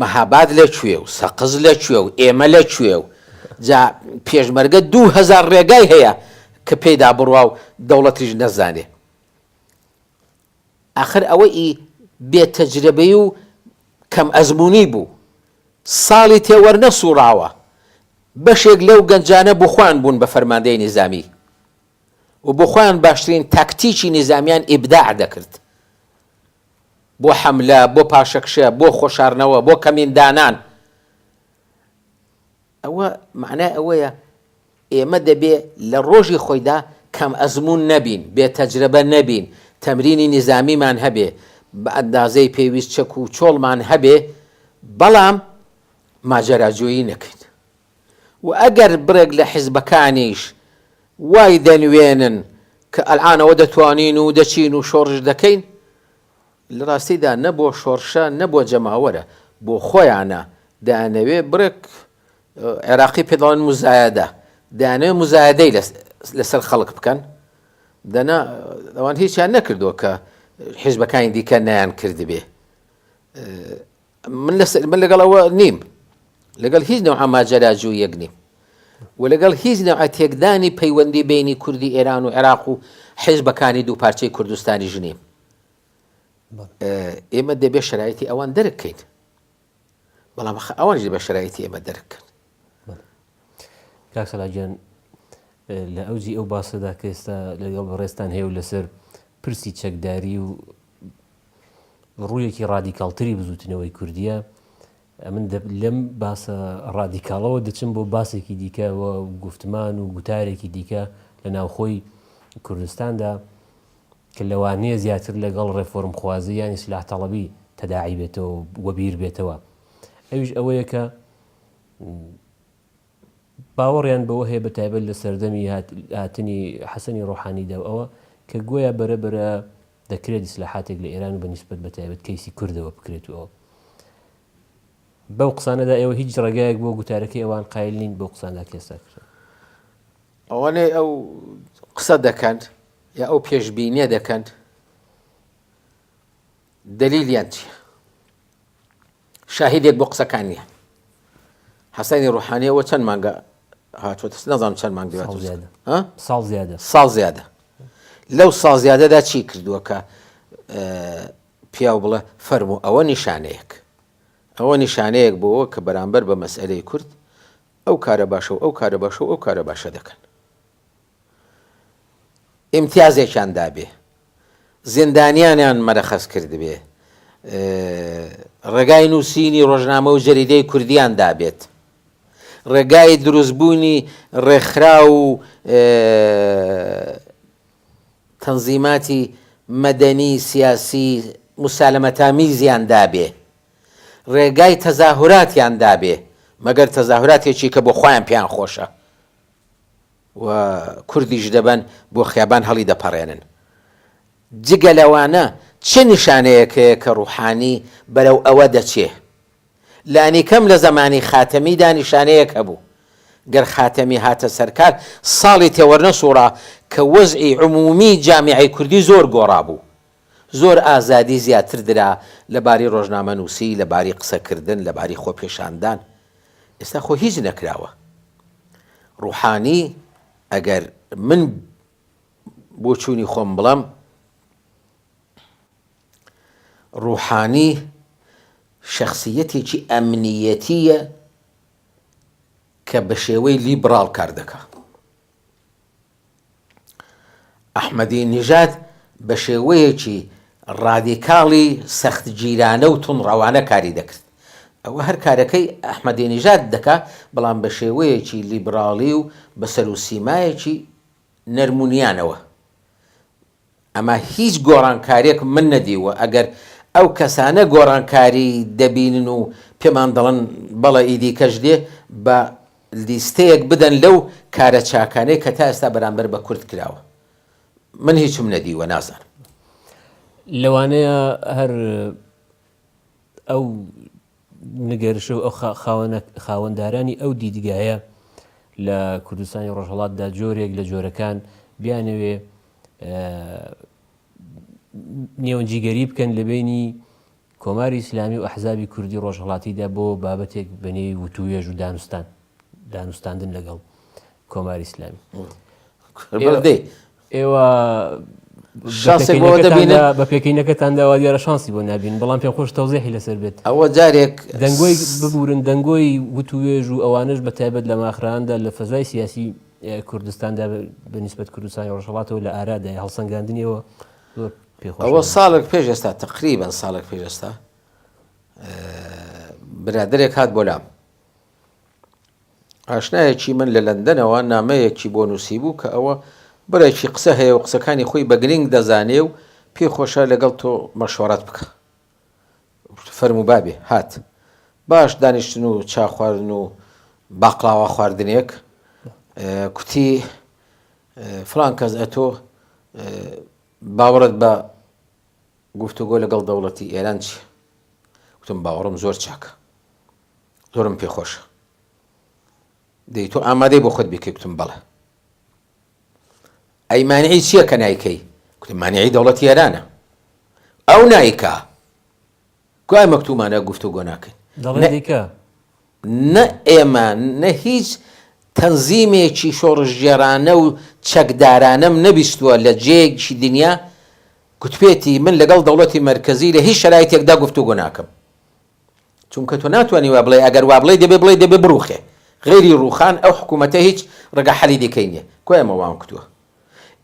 مەهاباد لە کوێ و سەقز لە کوێ و ئێمە لە کوێ و جا پێشمەرگە دوو هەزار ڕێگای هەیە کە پێیدا بڕوا و دەوڵەتیش نەزانێ ئاخر ئەوە ئی بێ تەجرەبەی و کەم ئەزموونی بوو ساڵی تێ وەرنەسووڕاوە بەشێک لەو گەنجانە بۆ خۆیان بوون بە فەرماندەی نیزامی و بۆ خۆیان باشترین تاکتیکی نیزامیان ئیبداع دەکرد بۆ حەملە، بۆ پاشەکشە، بۆ خۆشارنەوە، بۆ کەمین دانان. ئەوە مەعنای ئەوەیە ئێمە دەبێ لە ڕۆژی خۆیدا کەم ئەزموون نەبین، بێ تەجرەبە نەبین، تەمرینی نیزامیمان هەبێ، بە ئەندازەی پێویست چەک و چۆڵمان هەبێ، بەڵام ماجەراجۆیی نەکەین. و ئەگەر بڕێک لە حیزبەکانیش وای دەنوێنن کە ئەلعانەوە دەتوانین و دەچین و شۆڕش دەکەین، لە ڕاستیدا نە بۆ شۆڕشە نە بۆ جەماوەرە، بۆ خۆیانە، دەیانەوێ بڕێک، عێراقی پێ دەڵێن موزایەدە، دەیانەوێ موزایەدەی لە سەر خەڵک بکەن، دەنا ئەوان هیچیان نەکردووە کە حیزبەکانی دیکە نەیانکردبێ. من من لەگەڵ ئەوە نیم لەگەڵ هیچ نەوە ماجەراجوویەک نیم و لەگەڵ هیچ نەوە تێکدانی پەیوەندی بینی کوردی ئێران و عێراق و حیزبەکانی دوو پارچەی کوردستانی ژنیم ئێمە دەبێ شرایەتی ئەوان دەرکەین بەڵام ئەوان دەبێ شرایەتی ئێمە دەرکەن کاک سەلاجان لە ئەوجی ئەو باسەدا کە ئێستا لەگەڵ بەڕێزتان هەیە و لەسەر پرسی چەکداری و ڕوویەکی ڕادیکاڵتری بزوتنەوەی کوردیە ئەمن لەم باسە ڕادیکاڵەوە دەچم بۆ باسێکی دیکە و گفتمان و گوتارێکی دیکە لە ناوخۆی کوردستاندا کە لەوانەیە زیاتر لەگەڵ ڕێفۆرم خوازی یانی سلاح تەڵەبی تەداعی بێتەوە وەبیر بێتەوە ئەوش ئەوەیە کە باوەڕیان بەوە هەیە بەتایبەت لە سەردەمی هاتنی حەسەنی ڕۆحانیدا و ئەوە کە گۆیا بەرە بەرە دەکرێت دیسلاحاتێک لە ئێران و بە نیسبەت بە تایبەت کەیسی کوردەوە بکرێت و ئەوە بەو قسانەدا ئێوە هیچ ڕێگایەک بۆ گوتارەکەی ئەوان قایل نین بۆ قساندا کێستا کرد ئەوانەی ئەو قسە دەکەند یا ئەو پێشببینیە دەکەند دەلیلیان چییە شاهیدێک بۆ قسەکان نییە حەسەنی ڕوحانیەوە چەند مانگە هاتووە نەزانام چەند مانگ ساڵ زیادە ساڵ زیادە لەو ساڵ زیادەدا چی کردووە کە پیاو بڵێ فەرمو ئەوە نیشانەیەک ئەوە نیشانەیەک بۆەوە کە بەرامبەر بە مەسئلەی کورد ئەو کارە باشە و ئەو کارە باشە و ئەو کارە باشە دەکەن ئیمتیازێکیان دابێ، زیندانیانیان مەرەخەس کردبێ، ڕێگای نووسینی ڕۆژنامە و جەریدەی کوردییان دابێت، ڕێگای دروستبوونی ڕێکخرا و تەنزیماتی مەدەنی سیاسی موسالەمەتامیزیان دابێ، ڕێگای تەزاهوراتیان دابێ، مەگەر تەزاهوراتێکی کە بۆ خۆیان پێیان خۆشە. و کوردیش دەبەن بۆ خیابان هەڵی دەپەڕێنن. جگە لەوانە چ نیشانەیەک هەیە کە ڕوحانی بەرەو ئەوە دەچێ؟ لانیکەم لە زەمانی خاتەمیدا نیشانەیەک هەبوو. گەر خاتەمی هاتە سەرکار ساڵی تێوەرنەسووڕا کە وەزعی عموومی جامیعەی کوردی زۆر گۆڕابوو. زۆر ئازادی زیاتر درا لە باری ڕۆژنامەنووسی، لە باری قسەکردن، لە باری خۆپێشاندان. ئێستا خۆ هیچ نەکراوە. ڕووحانی ئەگەر من بۆچوونی خۆم بڵێم، ڕووحانی شەخسیەتێکی ئەمنیەتییە کە بە شێوەی لیبڕاڵ کار دەکا. ئەحمەدی نیژاد بە شێوەیەکی ڕادیکاڵی سەختگیرانە و توندڕەوانە کاری دەکرد. ئەوە هەر کارەکەی ئەحمەدی نیژاد دەکا، بەڵام بە شێوەیەکی لیبراڵی و بە سەروسیمایەکی نەرمونیانەوە. ئەمە هیچ گۆڕانکاریەکم من نەدیووە ئەگەر ئەو کەسانە گۆڕانکاری دەبینن و پێمان دەڵن بەڵێ ئیدیکەش دێ با لیستەیەک بدەن لەو کارە چاکانەی کە تا ئێستا بەرامبەر بە کورد کراوە من هیچم نەدیووە نازانم. لەوانەیە هەر ئەو نگەرشەو خاوەندارانی ئەو دیدگایە لە کوردستانی ڕۆژهەڵاتدا جۆرێک لە جۆرەکان بیانەوێ نێوەنجیگەری بکەن لە بینی کۆماری ئیسلامی و ئەحزابی کوردی ڕۆژهڵاتیدا بۆ بابەتێک بەنێوی وتوێژ و دانوستان دانوستاندن لەگەڵ کۆماری ئیسلامی. بەڵێ دەی. ئێوە شانسێک بۆ شانسێکەوە دەبینە؟ دەبینە بە پێکینەکەتان داوا دیارە شانسی بۆ نابین بەڵام پێم خۆش تەوزێحی لەسەر بێت ئەوە جارێک دەنگۆی ببورن دەنگۆی وتوێژ و ئەوانش بە تایبەت لە ماخراندا لە فەزای سیاسی اه، کوردستاندا بە- بە نسبەت کوردستانی ڕۆژهەڵاتەوە لە ئارادای هەڵسەنگاندنیەوە زۆر پێخۆش ئەوە نەبوو. ساڵێک پێش ئێستا تقریبان ساڵێک پێش ئێستا اه، برادێک هات بۆ لام ئاشنایەکی من لە لەندەنەوە نامەیەکی بۆ نووسیبوو کە ئەوە بڕێکی قسە هەیە و قسەکانی خۆی بە گرنگ دەزانێ و پێی خۆشە لەگەڵ تۆ مەشوەڕەت بکە فەرموو بابێ هات باش دانیشتن و چا خواردن و باقلاوە خواردنێک کوتی فلان کەس ئەتۆ باوەڕت بە گفتوگۆ لەگەڵ دەوڵەتی ئێران چی وتم باوەڕم زۆر چاکە زۆرم پێ خۆشە دەی تۆ ئامادەی بۆ خۆت بیکەی گوتم بەڵێ ئەی مانعی چییە کە نایکەی گوتم مانعی دەوڵەتی ئێرانە ئەو نایکا گوای مەکتومانە گفتو گۆ ناکەین دەڵێ دیکە نە ئێمە نە هیچ تەنزیمێکی شۆڕژگێرانە و چەکدارانم نەبیستووە لە جێگشی دنیا گوتپێتی من لەگەڵ دەوڵەتی مەرکزی لە هیچ شرایتێکدا گفتو گۆ ناکەم چونکە تۆ ناتوانی وا بڵێی ئەگەر وا بڵێی دەبێ بڵێی دەبێ بڕوخێ غەیری ڕوخان ئەو حکومەتە هیچ ڕەگە حەلی دیکەی نیە کوا ئێمە وام کتوە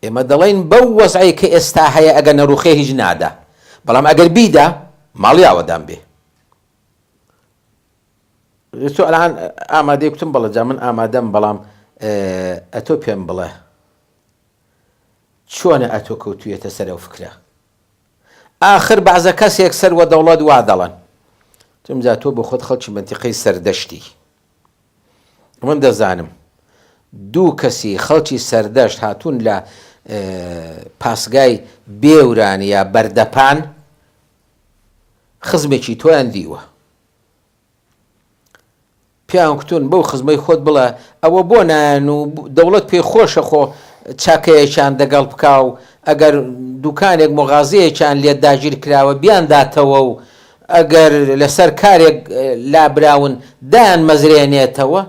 ئێمە دەڵێین بەو وەزعەی کە ئێستا هەیە ئەگەر نەڕوخێ هیچ نادا بەڵام ئەگەر بیدا ماڵی ئاوەدان بێ تۆ ئەلان ئامادەی کوتم بەڵە جا من ئامادەم بەڵام ئەتۆ پێم بڵێ چۆنە ئەتۆ کەوتویەتە سەرەو فکرە ئاخر بەعزە کەسێک سەر وە دەوڵەت وا دەڵەن تم جا تۆ بۆخۆت خەڵکی مەنتیقەی سەردەشتی من دەزانم دوو کەسی خەڵکی سەردەشت هاتوون لە پاسگای بێوران یا بەردەپان خزمێکی تۆیان دیوە پیاو کتون بەو خزمەی خۆت بڵێ ئەوە بۆ نایەن و دەوڵەت پێی خۆشە خۆ چاکەیەکیان دەگەڵ بکا و ئەگەر دوکانێک مغازەیەکیان لێ داگیر کراوە بیان داتەوە و ئەگەر لەسەر کارێک لابراون دایان مەزرێنێتەوە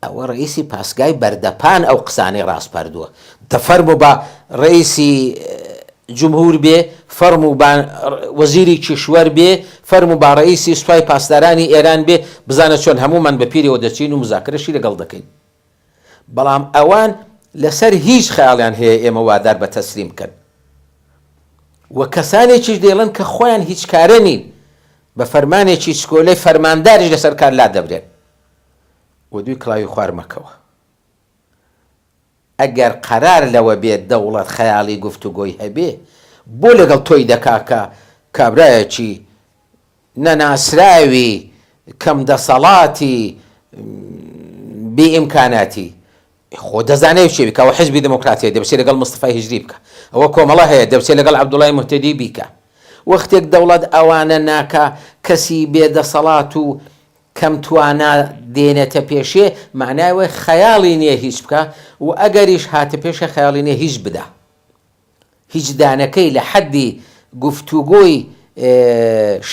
ئەوە ڕەئیسی پاسگای بەردەپان ئەو قسانەی ڕاسپاردووە دە فەرموو با ڕەئیسی جمهور بێ فەرموو با وەزیری کیشوەر بێ فەرموو با ڕەئیسی سوپای پاسدارانی ئێران بێ بزانە چۆن هەموومان بە پیریەوە دەچین و مزاکرەشی لەگەڵ دەکەین بەڵام ئەوان لەسەر هیچ خەیاڵیان هەیە ئێمە وادار بە تەسلیم بکەن و کەسانێکیش دەیڵن کە خۆیان هیچ کارە نین بە فەرمانێکی چکۆلەی فەرمانداریش لەسەر کار لا دەبرێن و دوی کڵاوی خوار مەکەوە. ئەگەر قەرار لەوە بێت دەوڵەت خەیاڵی گفتوگۆی هەبێ، بۆ لەگەڵ تۆی دەکا کە کابرایەکی نەناسراوی کەم دەسەڵاتی بی ئیمکاناتی، خۆ دەزانێ چی بکا، ئەوە حیزبی دموکرات هەیە دەبچێ لەگەڵ مستەفای هیجری بکا، ئەوە کۆمەڵە هەیە دەبچێ لەگەڵ عەبدوڵای موهتەدی بیکا. وەختێک دەوڵەت ئەوانە ناکا، کەسی بێ دەسەڵات و کەم توانا دێنێتە پێشێ مەعنای ئەوەی خەیاڵی نیە هیچ بکا و ئەگەریش هاتە پێشێ خەیاڵی نیە هیچ بدا. هیچ دانەکەی لە حەددی گفتوگۆی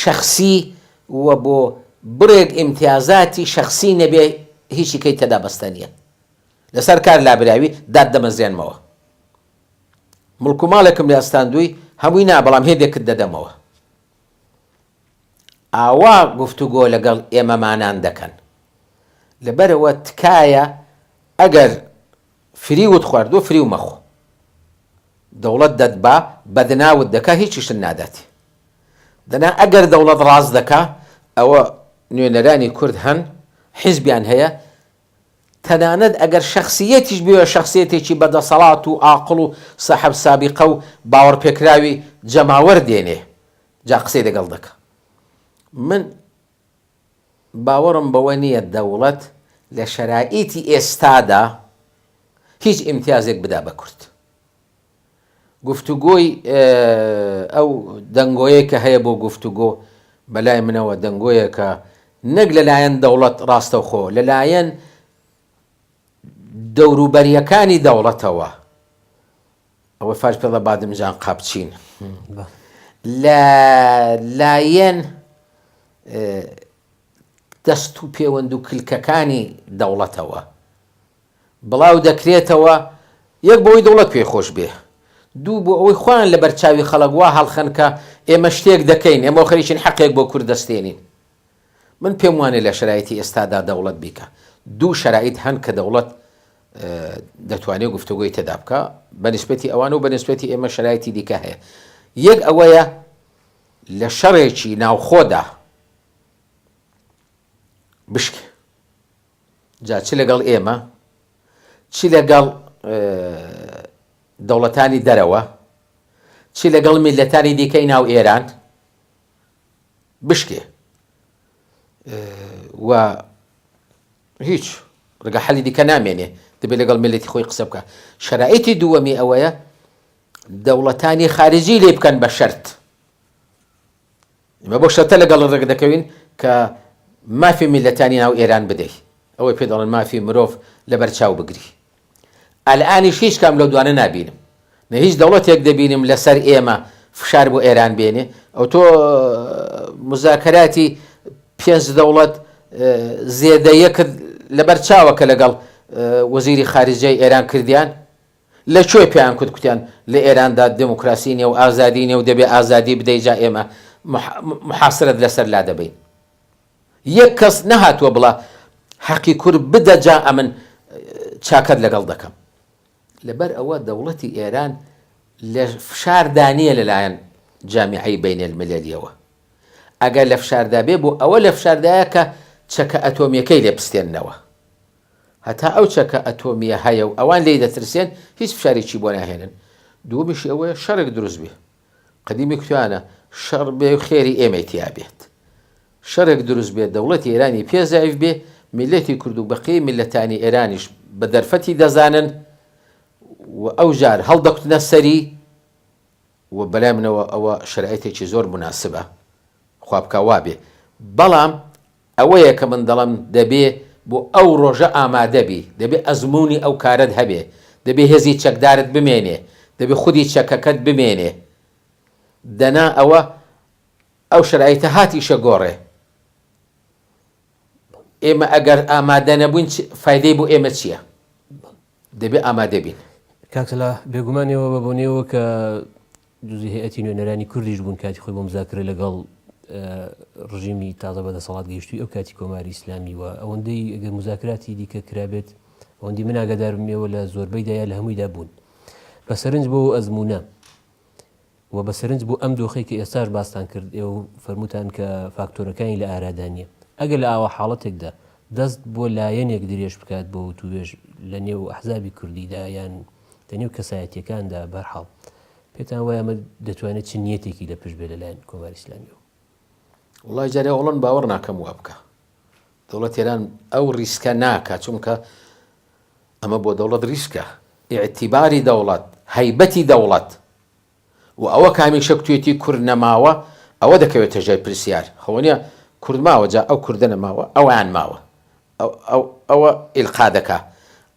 شەخسی و بۆ بڕێک ئیمتیازاتی شەخسی نەبێ هیچی کەی تێدا بەستە نیە. لە سەر کار لابراوی دات دەمەزرێنمەوە. مڵک و ماڵێکم لێ ئەستاندووی هەمووی نا بەڵام هێندێکت دەدەمەوە. ئاوا گفتوگۆ لەگەڵ ئێمەمانان دەکەن لەبەرئەوە تکایە ئەگەر فریوت خواردوە فریو مەخۆ دەوڵەت دەتبا بەدناوت دەکا هیچیشت نادات دەنا ئەگەر دەوڵەت ڕاست دەکا ئەوە نوێنەرانی کورد هەن حیزبیان هەیە تەنانەت ئەگەر شەخسیەتیش بوێ شەخسیەتێکی بەدەسەڵات و ئاقڵ و سەحب سابیقە و باوەڕپێکراوی جەماوەر دێنێ جا قسەی لەگەڵ دەکا. من باوەڕم بەوە نییە دەوڵەت لە شەرائیتی ئێستادا هیچ ئیمتیازێک بدا بە کورد. گفتوگۆی ئەو دەنگۆیە کە هەیە بۆ گفتوگۆ بەلای منەوە دەنگۆیەکە نەک لەلایەن دەوڵەت ڕاستەوخۆ لەلایەن دەوروبەریەکانی دەوڵەتەوە ئەوە فاش پێڵە بادم جان قاپچین لە لایەن دەست و پێوەند و کلکەکانی دەوڵەتەوە بڵاو دەکرێتەوە یەک بۆی دەوڵەت پێ خۆش بێ دوو بۆ ئەوەی خۆیان لە بەرچاوی خەڵک وا هەڵخەنکە ئێمە شتێک دەکەین ئێمە خەریکین حەقێک بۆ کورد دەستێنین من پێم وانیە لە شەرایتی ئێستادا دەوڵەت بیکا دوو شەرایت هەن کە دەوڵەت دەتوانێت گفتوگۆی تێدا بکە بە نسبەتی ئەوان و بە نسبەتی ئێمە شەرایتی دیکە هەیە یەک ئەوەیە لە شەڕێکی ناوخۆدا بشک جا چ لەگەڵ ئێمە چ لەگەڵ دەوڵەتانی دەرەوە چ لەگەڵ میلەتانی دیکەی ناو ئێران بشکێ و هیچ ڕگە حەلی دیکە نامێنێ دەبێت لەگەڵ ملەتی خۆی قسە بکە شەرایتی دووەمی ئەوەیە دەوڵەتانی خارجی لێ بکەن بە شەرت ئمە بۆ شەتە لەگەڵ ڕێک دەکەوین کە مافی میلەتانی ناو ئێران بدەیت ئەوەی پێ دەڵێن مافی مرۆڤ لەبەر چاو بگری ئەلئانیش هیچ کام لەو دوانە نابینم نە هیچ دەوڵەتێک دەبینم لەسەر ئێمە فشار بۆ ئێران بێنێ ئەوتۆ مزاکەراتی پێنج دەوڵەت زێدەیە کرد لەبەر چاوە کە لەگەڵ وەزیری خارجەی ئێران کردیان لە کوێ پێیان کوت کوتیان لە ئێراندا دموکراسی نیە و ئازادی نیە و دەبێ ئازادی بدەی جا ئێمە محاسرەت لەسەر لا دەبین یەک کەس نەهاتوە بڵا حەقی کورد بدە جا ئەمن چاکەت لەگەڵ دەکەم. لەبەر ئەوە دەوڵەتی ئێران لە فشار دا نیە لە لایەن جامیعەی بەین المللیەوە ئەگەر لە فشار دا بێ بۆ ئەوە لە فشار دایە کە چەکە ئەتۆمیەکەی لێ بستێننەوە هەتا ئەو چەکە ئەتۆمیە هەیە و ئەوان لێی دەترسێن هیچ فشارێکی بۆ ناهێنن دووەمیشی ئەوەیە شەڕێک دروست بێ قەدیمی کوتانە شەڕ بێ و خێری ئێمەی تیا بێت شەرێک دروست بێت دەوڵەتی ئێرانی پێ زەعیف بێ میلەتی کورد و بەقیەی میلەتانی ئێرانیش بە دەرفەتی دەزانن و ئەو جار هەڵدەکوتنە سەری و بەلای منەوە ئەوە شەرایتێکی زۆر موناسبە خوا بکا وا بێ بەڵام ئەوەیە کە من دەڵێم دەبێ بۆ ئەو ڕۆژە ئامادە بی، دەبێ ئەزموونی ئەو کارەت هەبێ، دەبێ هێزی چەکدارت بمێنێ، دەبێ خودی چەکەکەت بمێنێ. دەنا ئەوە ئەو شەرایتە هاتیشە گۆڕێ. ئێمە ئەگەر ئامادە نەبووین چ فایدەی بۆ ئێمە چییە؟ دەبێ ئامادە بین. کاک سەلاح، بێگومان ئێوە بە بۆنەی ئەوە کە دزی هەیئەتی نوێنەرانی کوردیش بوون کاتی خۆی بۆ مزاکرە لەگەڵ ڕژیمی تازە بەدەسەڵات گەیشتووی ئەو کاتی کۆماری ئیسلامی و ئەوەندەی ئەگەر مزاکراتی دیکە کرابێت ئەوەندی من ئاگادارم ئێوە لە زۆربەی دایە لە هەموویدا بوون بە سەرنج بۆ ئەزمونە و بە سەرنج بۆ ئەم دۆخی کە ئێستاش باستان کرد ئێ و فەرموتان کە فاکتۆرەکانی لە ئارادانە ئەگەر لە ئاوا حاڵەتێکدا دەست بۆ لایەنێک درێژ بکات بۆ وتوێژ لە نێو ئەحزابی کوردیدا یان لە نێو کەسایەتیەکاندا بەرحاڵ پێتان وایە ئەمە دەتوانێت چ نیەتێکی لە پشت بێ لەلایەن کۆماری ئیسلامیەوە؟ وەڵای جارێ ئەوڵۆن باوەڕ ناکەم وا بکە دەوڵەت تێران ئەو ڕیسکە ناکە چونکە ئەمە بۆ دەوڵەت ڕیسکە ئیعتیباری دەوڵەت هەیبەتی دەوڵەت و ئەوە کە هەمیشە کوتوێتی کورد نەماوە ئەوە دەکەوێتە ژێر پرسیار خۆنیە کورد ماوە جا ئەو کوردە نەماوە ئەوان ماوە ئەوە ئیلقا دەکا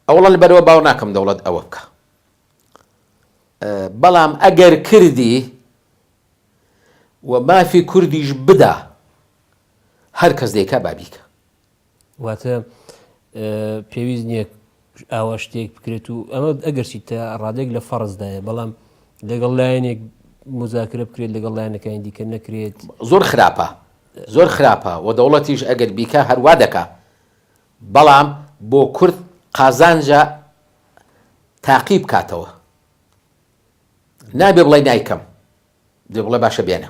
ئەوڵەن بەرەوە باوە ناکەم دەوڵەت ئەوە بکە بەڵام ئەگەر کردی و مافی کوردیش بدا هەر کەس دەیکا بابیکە واتە پێویست نییە ئاوا شتێک بکرێت و ئەمە ئەگەرچی تا ڕادێک لە فەرزدایە بەڵام لەگەڵ لایەنێک مزاکرە بکرێت لەگەڵ لایەنەکانی دیکە نەکرێت زۆر خراپە زۆر خراپە و دەوڵەتیش ئەگەر بیکە هەروا دەکا بەڵام بۆ کورد قازانجە تاقی بکاتەوە نابێ بڵێ نایکەم دێ بڵێ باشە بێنە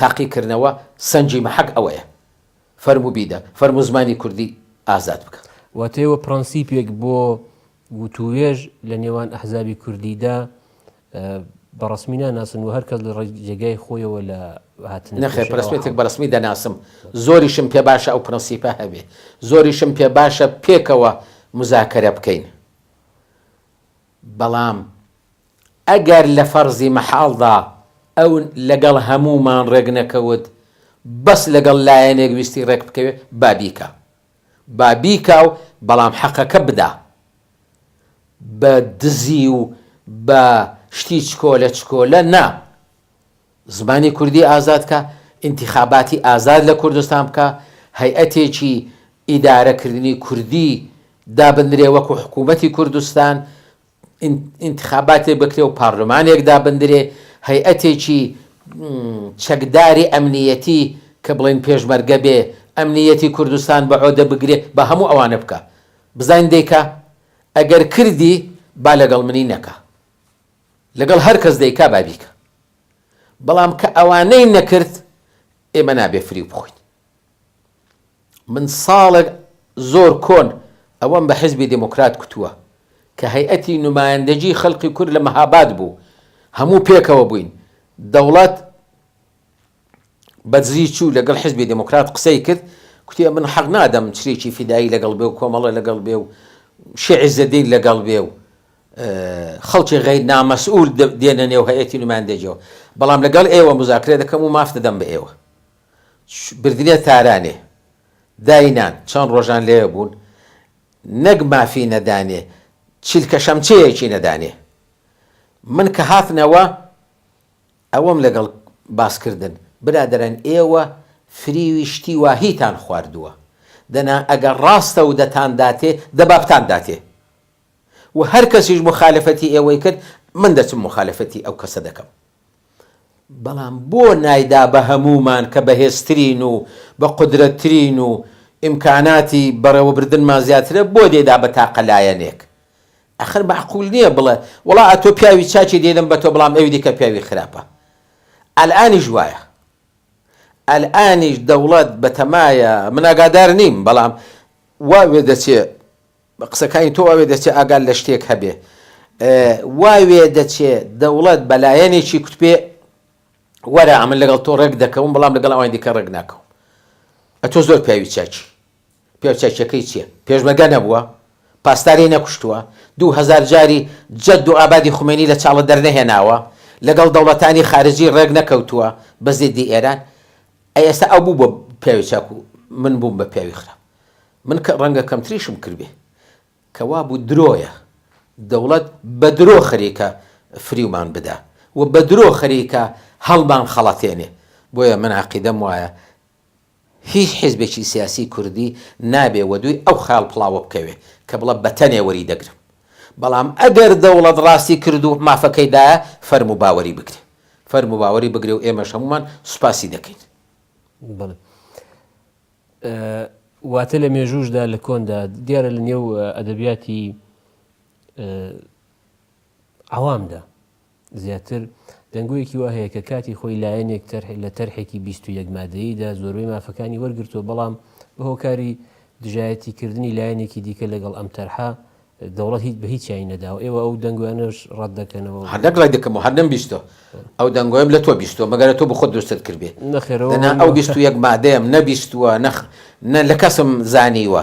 تاقیکردنەوە سەنگی مەحەک ئەوەیە. فەرموو بیدە، فەرموو زمانی کوردی ئازاد بکە. واتای و پڕەنسیپێک بۆ وتووێژ لە نێوان ئەحزابی کوردیدا بە ڕەسمی ناناسن و هەر کەس لە ڕێی جێگای خۆیەوە لە هاتنە پێشەوە نەخێر، پرەسپێتێک بە ڕەسمی دەناسم. زۆریشم پێ باشە ئەو پڕەنسیپە هەبێ. زۆریشم پێ باشە پێکەوە موزاکەرە بکەین. بەڵام ئەگەر لە فەرزی مەحاڵدا ئەو لەگەڵ هەموومان ڕێک نەکەوت بەس لەگەڵ لایەنێک ویستی ڕێک بکەوێ با بیکا با بیکا و بەڵام حەقەکە بدا بە دزی و بە شتی چکۆلە چکۆلە نا زمانی کوردی ئازاد کە، ئینتیخاباتی ئازاد لە کوردستان بکا، هەیئەتێکی ئیدارە کردنی کوردی دابندرێ وەکو حکوومەتی کوردستان، ئینتیخاباتێک بکرێ و پارلمانێک دابندرێ، هەیئەتێکی چەکداری ئەمنییەتی کە بڵێن پێشمەرگە بێ، ئەمنییەتی کوردستان بە عۆدە بگرێ، با هەموو ئەوانە بکا. بزانین دەیکا؟ ئەگەر کردی با لەگەڵ منی نەکا. لەگەڵ هەر کەس دەیکا با بیکا بەڵام کە ئەوانەی نەکرد ئێمە نابێ فریو بخۆین من ساڵێک زۆر کۆن ئەوەم بە حزبی دموکرات کوتووە کە هەیئەتی نمایندەجی خەلقی کورد لە مەهاباد بوو هەموو پێکەوە بووین دەوڵەت بەدزی چوو لەگەڵ حیزبی دێمۆکرات قسەی کرد، کوتی ئەمن حەق نادەم چریکی فیدایی لەگەڵ بێ و کۆمەڵە لەگەڵ بێ و شێ عیزەدین لەگەڵ بێ و خەڵکی غەیر نامەسئول دێنە نێو هەیئەتی نومایندەجیەوە، بەڵام لەگەڵ ئێوە موزاکرە دەکەم و ماف دەدەم بە ئێوە. بردینە تارانێ. داینان. چەند ڕۆژان لەوێ بوون. نەک مافی نەدانێ، چلکە شەمچەیەکی نەدانێ. من کە هاتنەوە ئەوەم لەگەڵ باس کردن برادەران ئێوە فریوی شتی واهیتان خواردووە دەنا ئەگەر ڕاستە و دەتان داتێ دە با بتان داتێ و هەر کەسیش موخالەفەتی ئێوەی کرد من دەچم موخالەفەتی ئەو کەسە دەکەم بەڵام بۆ نایدا بە هەموومان کە بەهێزترین و بە قودرەتترین و ئیمکاناتی بەڕێوەبردنمان زیاترە بۆ دەیدا بە تاقە لایەنێک ئەخر مەعقول نیە بڵێ وەڵا ئەتۆ پیاوی چاکی دینم بەتۆ بڵام ئەوی دیکە پیاوی خراپە ئەلئانیش وایە ئەلئانیش دەوڵەت بەتەمایە من ئاگادار نیم بەڵام وا وێ دەچێ قسەکانی تۆ وا وێ دەچێ ئاگات لە شتێک هەبێ وا وێ دەچێ دەوڵەت بە لایەنێکی کوتپێ وەرە ئەمن لەگەڵ تۆ ڕێک دەکەوم بەڵام لەگەڵ ئەوانی دیکە ڕێک ناکەوم ئەتۆ زۆر پیاوی چاکی پێوچەکیەکەی چیە پێشمەرگە نەبووە پاسداری نەکوشتووە دوو هەزار جاری جەد و ئابادی خومەینی لە چاڵە دەرنەهێناوە لەگەڵ دەوڵەتانی خارجی ڕێک نەکەوتووە بە زیدی ئێران ئەی ئێستا ئەو بوو بە پیاوێچاک و من بووم بە پیاوی خراپ من کە ڕەنگە کەمتریشم کردبێ کە وابوو درۆیە دەوڵەت بە درۆ خەریکە فریومان بدا و بە درۆ خەریکە هەڵمان خەڵەتێنێ بۆیە من عەقیدەم وایە هیچ حیزبێکی سیاسی کوردی نابێ وەدووی ئەو خەیاڵ پڵاوە بکەوێ کە بڵێ بەتەنێ وەریدەگرم، بەڵام ئەگەر دەوڵەت ڕاستی کرد و مافەکەی دایە، فەرموو باوەری بگرێ. فەرموو باوەری بگرێ و ئێمەش هەموومان سوپاسی دەکەین. بەڵێ. واتە لە مێژووشدا لە کۆندا دیارە لە نێو ئەدەبیاتی عەوامدا، زیاتر، دەنگۆیەکی وا هەیە کە کاتی خۆی لایەنێک تەرح لە تەرحێکی بیست و یەک مادەییدا زۆربەی مافەکانی وەرگرتووە بەڵام بە هۆکاری دژایەتی کردنی لایەنێکی دیکە لەگەڵ ئەم تەرحە دەوڵەت هیچ بە هیچیانی نەداوە ئێوە ئەو دەنگۆیانەش ڕەت دەکەنەوە؟ هەر نەک ڕەت دەکەم و هەر نەمبیستووە ئەو دەنگۆیەم لە تۆ بیستووە مەگەر تۆ بۆ خۆت دروستت کردبێ نەخێر ئەوە دەنا ئەو بیست و یەک مادەیەم نەبیستووە نەخ نە لە کەسم زانیوە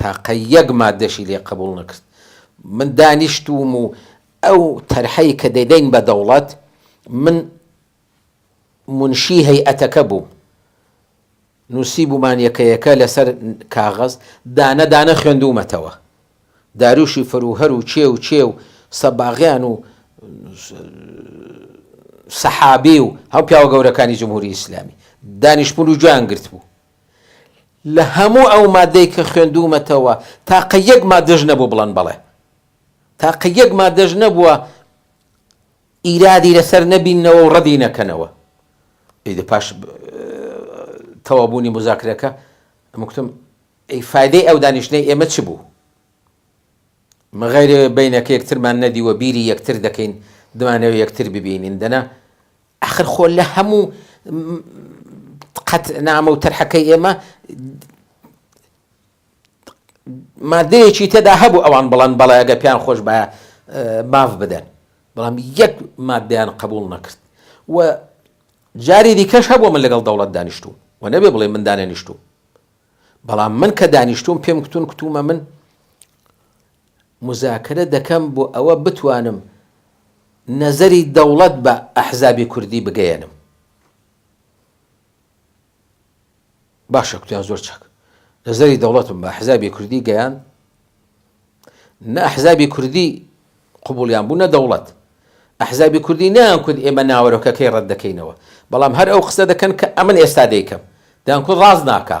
تاقە یەک مادەشی لێ قبوڵ نەکرد من دانیشتووم و ئەو تەرحەی کە دەیدەین بە دەوڵەت من منشی هەیئەتەکە بووم نووسیبوومان یەکە یەکە لەسەر کاغەز دانە دانە خوێندوومەتەوە داروشی فروهەر و چێ و چێ و سەباغیان و سەحابی و هەم پیاوە گەورەکانی جمهوری ئیسلامی دانیشتبوون و گوێیان گرتبوو لە هەموو ئەو مادەی کە خوێندوومەتەوە تاقە یەک مادەش نەبوو بڵێن بەڵێ. تاقە یەک مادەش نەبووە ئیرادی لەسەر نەبینەوە و ڕەدی نەکەنەوە. ئیدە پاش تەوابوونی مزاکرەکە مکتم ئەی فایدەی ئەو دانیشتنەی ئێمە چ بوو؟ مەغیر بینەکە یەکترمان نەدیوە بیری یەکتر دەکەین دمانەوە یەکتر ببینین دەنا ئاخر خۆ لە هەموو قەت نامە و تەرحەکەی ئێمە مادەیەکی تێدا هەبوو ئەوان بڵند بەڵێ ئەگە پیان خۆش بە ماف بدەن بەڵام یەک مادەیان قبول نەکرد و جاری دیکەش هەبوو من لەگەڵ دەوڵەت دانیشتو و نەبێ بڵێ من دانێنیشتو بەڵام من کە دانیشتوم پێم کتون کتومە من موزاکرە دەکەم بۆ ئەوە بتوانم نەزەری دەوڵەت بە ئەحزابی کوردی بگەیەنم. باشە کوتیان زۆر چاک نەزەری دەوڵەتم بە ئەحزابی کوردی گەیان نە ئەحزابی کوردی قوبولیان بوو نە دەوڵەت ئەحزابی کوردی نان کورد ئێمە ناوەرۆکەکەی ڕەت دەکەینەوە بەڵام هەر ئەو قسە دەکەن کە ئەمن ئێستا دەیکەم دان کورد ڕاست ناکە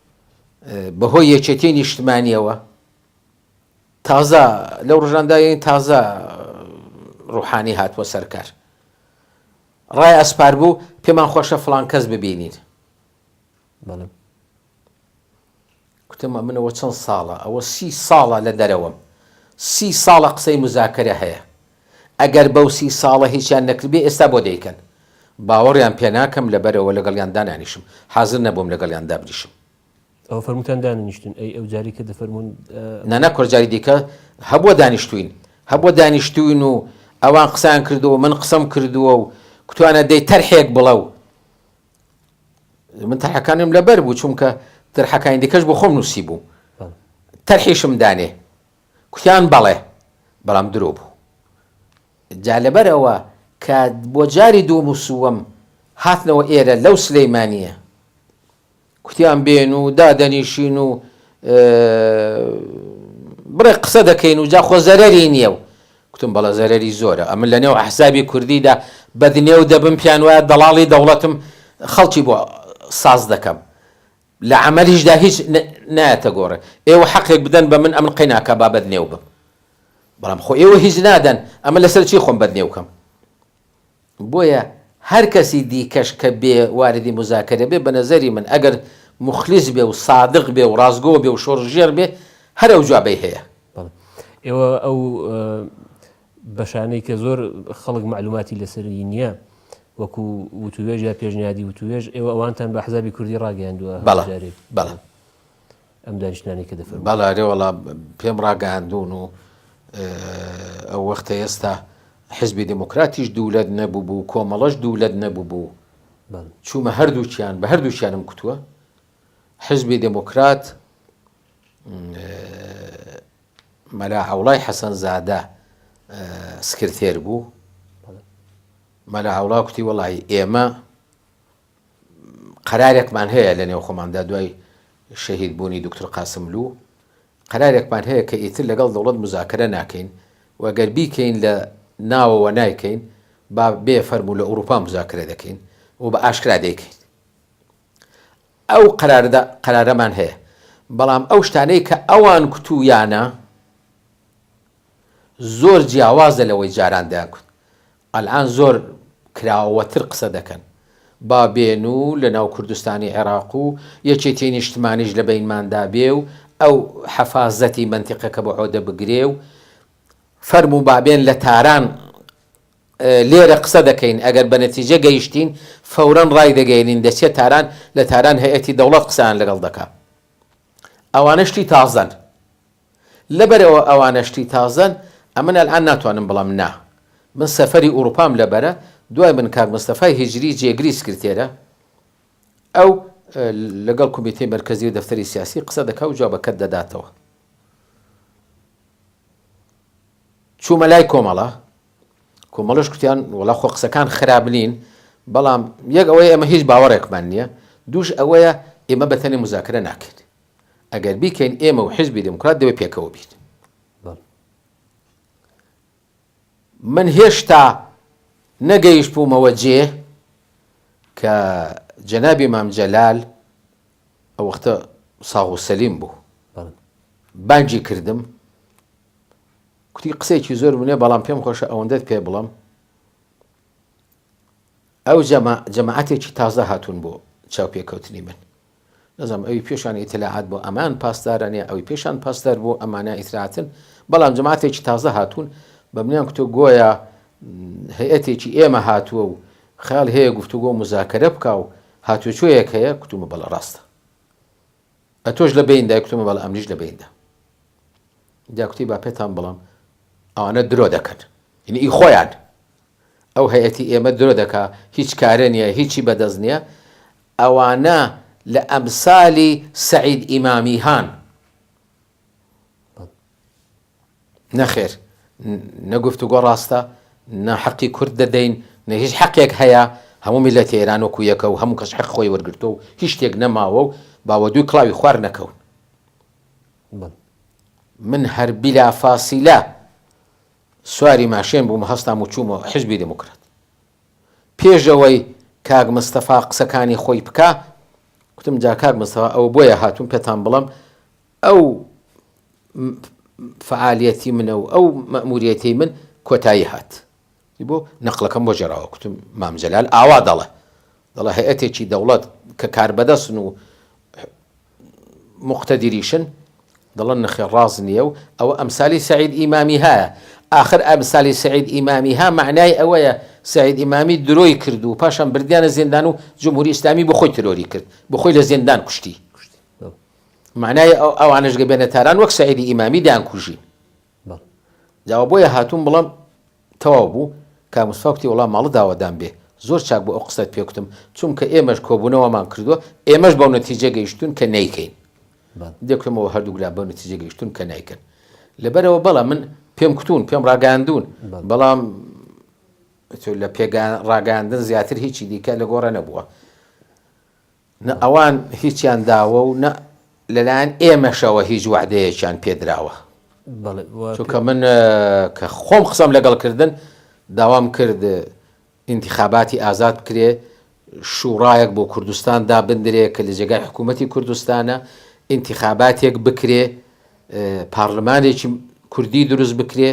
بەهۆی یەکێتیی نیشتمانییەوە تازە لەو ڕژاندا یەنی تازە ڕوحانی هاتووە سەرکار ڕای ئەسپار بوو پێمان خۆشە فلان کەس ببینین کوتم منەوە چەند ساڵە ئەوە سی ساڵە لە دەرەوەم سی ساڵە قسەی مزاکرە هەیە ئەگەر بەو سی ساڵە هیچیان نەکردبێ ئێستا بۆ دەیکەن؟ باوەڕیان پێناکەم لەبەرئەوە لەگەڵیان دانانیشم حازر نەبووم لەگەڵیان دابنیشم. ئەوە فەرمووتان داننیشتن ئەی ئەو جاری کە دەفەرموون. نەنە کورە جاری دیکە هەبووە دانیشتووین هەبووە دانیشتووین و ئەوان قسەیان کردووە من قسەم کردووە و کوتوانە دەی تەرحێک بڵە و من تەرحەکانم لەبەر بوو چونکە تەرحەکانی دیکەش بۆ خۆم نووسیبووم تەرحیشم دانێ کوتیان بەڵێ بەڵام درۆ بوو. جا لەبەر ئەوە کە بۆ جاری دووەم و سووەم هاتنەوە ئێرە لەو سلیمانییە کوتیان بێن و دادەنیشین و بڕێ قسە دەکەین و جا خۆ زەرەری نییە و کوتم بەڵە زەرەری زۆرە ئەمن لە نێو حسابی کوردیدا بەدنێو دەبم پیان وایە دەڵاڵی دەوڵەتم خەڵکی بۆ ساز دەکەم لە عەمەلیشدا هیچ نایەتە گۆڕێ. ئێوە حەقێک بدەن بە من ئەمن قەیناکا با بەدنێو بم. بەڵام خۆ ئێوە هیچ نادەن، ئەمن لەسەر چی خۆم بەدنێو کەم؟ بۆیە هەر کەسی دیکەش کە بێ واردی موزاکەرە بێ، بە نەزەری من ئەگەر موخلیس بێ و سادق بێ و ڕاستگۆ بێ و شۆڕشگێڕ بێ، هەر ئەوجا بەی هەیە. بەڵێ. ئێوە ئەو بەشانەی کە زۆر خەڵک مەعلوماتی لەسەری نییە وەکو وتوێژ یا پێشنیادی وتوێژ ئێوە ئەوانتان بە حزابی کوردی ڕاگەیاندووە بەڵێ بەڵێ ئەم دانیشتانی کە دەفەر بەڵارێ وڵا پێم ڕاگەاندون و ئەو وەختە ئێستا حزبی دموکراتیش دوولەت نەبوو بوو کۆمەڵەش دوولەت نەبوو بوو چوومە هەردووچیان بە هەردووچیانم کوتووە حزبی دموکرات مەلا عەوڵای حەسەن زادە سکرتێر بوو مەلا عەوڵا کوتی وەڵی ئێمە قەرارێکمان هەیە لە نێو خۆماندا دوای شەهید بوونی دکتر قاسملو قەرارێکمان هەیە کە ئیتر لەگەڵ دەوڵەت مزاکرە ناکەین وەگەر بیکەین لە ناوەوە نایکەین با بێ فەرمو لە ئوروپا مزاکرە دەکەین و بە ئاشکرا دەیکەین ئەو قەرارەدا قەرارەمان هەیە، بەڵام ئەو شتانەی کە ئەوان کوتوویانە زۆر جیاوازە لەوەی جاران دەیانکوت، ئەلئان زۆر کراوەتر قسە دەکەن، با بێن و لەناو کوردستانی عێراق و یەکێتیی نیشتمانیش لە بەینماندا بێ و ئەو حەفازەتی مەنتیقەکە بە عۆدە بگرێ و فەرموو با بێن لە تاران لێرە قسە دەکەین، ئەگەر بە نەتیجە گەیشتین، فەورەن ڕایدەگەیەنین دەچێت تاران، لە تاران هەیئەتی دەوڵەت قسەیان لەگەڵ دەکا. ئەوانە شتی تازەن. لەبەرئەوە ئەوانە شتی تازەن، ئەمن ئەلئان ناتوانم بڵێم نا. من سەفەری ئوڕووپام لەبەرە، دوای من کاک مستەفای هیجری جێگری سکرتێرە، ئەو لەگەڵ کومیتەی مەرکەزی و دەفتەری سیاسی قسە دەکا و جوابەکەت دەداتەوە. چوومە لای کۆمەڵە، کۆمەڵەش کوتیان وەڵا خۆ قسەکان خراپ نین، بەڵام یەک ئەوەیە ئێمە هیچ باوەڕێکمان نییە، دووش ئەوەیە ئێمە بە تەنێ موزاکرە ناکەین، ئەگەر بیکەین ئێمە و حیزبی دێموکرات دەبێ پێکەوە بین. من هێشتا نەگەیشتبوومەوە جێ کە جەنابی مام جەلال ئەو وەختە ساغ و سەلیم بوو بانگی کردم، کوتی قسەیەکی زۆر ونێ بەڵام پێم خۆشە ئەوەندەت پێ بڵم ئەو جەماعەتێکی تازە هاتوون بۆ چاو پێکەوتنی من نەزم ئەوی پێشان ئیتلاعات بۆ ئەمان پاسدارانە ئەوی پێشان پاسدار بۆ ئەمانە ئیتراتن بەڵام جەماعاتێکی تازە هاتوون بە منیان کتۆ گۆیە هەیەتێکی ئێمە هاتووە و خیال هەیە گفتوگۆ مزاکەرە بکە و هاتوچۆیەک هەیە کتومە بەڵە ڕاستە ئەتۆش لە بەیندای کوتم بەڵێ ئەمنیش لە بەیندا جا کوتی با پێتان بڵم ئەوانە درۆ دەکەن یعنی ئی خۆیان ئەو هەیەتی ئێمە درۆ دەکا هیچ کارە نییە هیچی بەدەست نییە ئەوانە لە ئەمسالی سعید ئیمامی هان نەخێر نە گفتوگۆ ڕاستە نە حەقی کورد دەدەین نە هیچ حەقێک هەیە هەموو میلەتی ئێران وەکو یەکە و هەموو کەس حەق خۆی وەرگرتووە و هیچ شتێک نەماوە و باوە دووی کڵاوی خوار نەکەون من هەر بلا فاسیلە سواری ماشێن بووم هەستام و چوومە حزبی دموکرات پێشەوەی کاک مستەفا قسەکانی خۆی بکە کوتم جا کاک مستەفا ئەوە بۆیە هاتوون پێتان بڵم ئەو فەعالیەتی منە و ئەو مەئموریەتەی من کۆتایی هات. ی بۆ نەقڵەکەم بۆ جێراوە کوتم مام جەلال ئاوا دەڵێ دەڵێ هەیئەتێکی دەوڵەت کە کاربەدەستن و موقتەدیریشن دەڵێن نەخێر ڕاست نییە و ئەوە ئەمسالی سەعید ئیمامیهایە ئاخر ئەمسالی سەعید ئیمامیها مەعنای ئەوەیە سەعید ئیمامی درۆی کرد و پاشان بردیانە زیندان و جمهوری ئیسلامی بۆ خۆی ترۆری کرد بۆ خۆی لە زیندان کوشتی مەعنای ئەو ئەوانەش گە بێنە تاران وەک سەعیدی ئیمامی دەیانکوژی. بەڵێ. جا ئەوە بۆیە هاتووم بڵێم تەواو بوو، کاک مستەفا کوتی وەڵا ماڵت داوەدام بێ، زۆر چاک بوو ئەو قسەت پێ کوتم، چونکە ئێمەش کۆبوونەوەمان کردووە، ئێمەش بەو نەتیجە گەیشتووین کە نەیکەین. بەڵێ. دێ کوتمەوە هەردووک لا بەو نەتیجە گەیشتوون کە نایکەن. لەبەرئەوە بەڵێ من پێم کوتوون، پێم ڕاگەیاندوون، بەڵێ. بەڵام تۆ لە پێگە ڕاگەیاندن زیاتر هیچی دیکە لە گۆڕێ نەبووە. نە ئەوان هیچیان داوە و نە لەلایەن ئێمەشەوە هیچ وەعدەیەکیان پێدراوە. چونکە من کە خۆم قسەم لەگەڵ کردن، داوام کرد ئینتیخاباتی ئازاد بکرێ، شوڕایەک بۆ کوردستان دابندرێ کە لە جێگای حکوومەتی کوردستانە، ئینتیخاباتێک بکرێ، پارلمانێکی کوردی دروست بکرێ،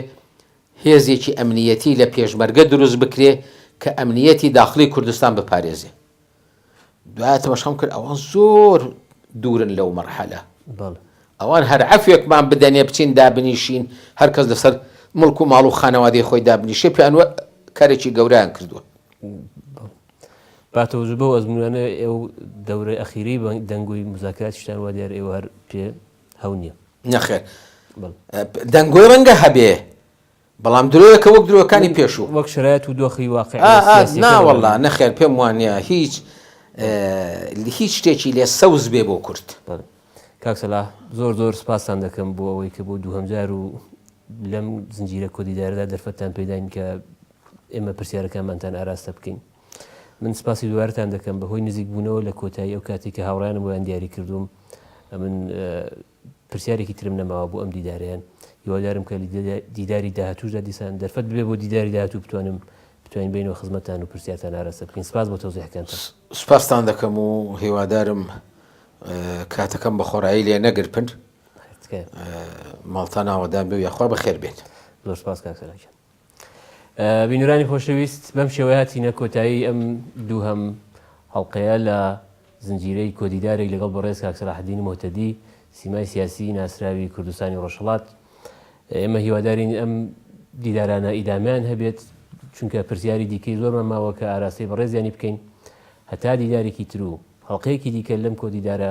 هێزێکی ئەمنییەتی لە پێشمەرگە دروست بکرێ کە ئەمنییەتی داخڵی کوردستان بپارێزێ. دوای تەمەشام کرد ئەوان زۆر دوورن لەو مەرحەلە ئەوان هەر عفوێکمان بدەنێ بچین دابنیشین هەرکەس لەسەر مڵک و ماڵ و خانەوادەی خۆی دابنیشێ پیانوە کارێکی گەوریان کردووە باتەوەز بۆ ئەزمونانە ئێو دەورە ئەخیری دەنگۆی مزاکاتشتان وا دیار ئێوە هەر پێ هەو نییە نەخێر دەنگۆی ڕەنگە هەبێ بەڵام درۆیەکە وەک درۆکانی پێشوو وەک شرایەت و دۆخی واقع ناوەڵا نەخێر پێم وانە هیچ هیچ شتێکی لێ سەوز بێ بۆ کورد کاکسەلا زۆر زۆر سپاسان دەکەم بۆ ئەوەی کە بۆ دووهمجار و لەم زنجیرە کۆدیداردا دەرفەتتان پێداین کە ئێمە پرسیارەکانمانتان ئاراستە بکەین من سپاسی دوارتان دەکەم بەهۆی نزیک بوونەوە لە کۆتایی ئەو کاتی کە هاوڕیانم بۆیان دیاری کردوم من پرسیارێکی ترم نەماوە بۆ ئەم دیدارەیان هیوادارم کە دیداری داهاتوشدا دیسان دەرفەت بێ بۆ دیداری داهاتوو بتوانم بتوانین بینەوە خزمەتان و پرسیارتان ئاراستە بکەین سپاس بۆ تۆزیحەکان سپاستان دەکەم و هیوادارم کاتەکەم بە خۆرایی لێ نەگرپن ماڵتان ئاوەدان بێ یاخوا بەخێر بێت زۆر سپاس کاکسەرجان بینەرانی خۆشەویست بەم شێوەیە هاتینە کۆتایی ئەم دووهەم هەڵلقەیە لە زنجیرەی کۆدیدارێک لەگەڵ بەڕێز کاکسراحدین مۆتەدی سیمای سیاسی ناسراوی کوردستانی ڕۆژهڵات ئێمە هیوادارین ئەم دیدارانە ئیدامیان هەبێت چونکە پرسیاری دیکەی زۆرمان ماوە کە ئاراستەی بەڕێزیانی بکەین هەتا دیدارێکی تر و هەڵلقەیەکی دیکە لەم کۆدیدارە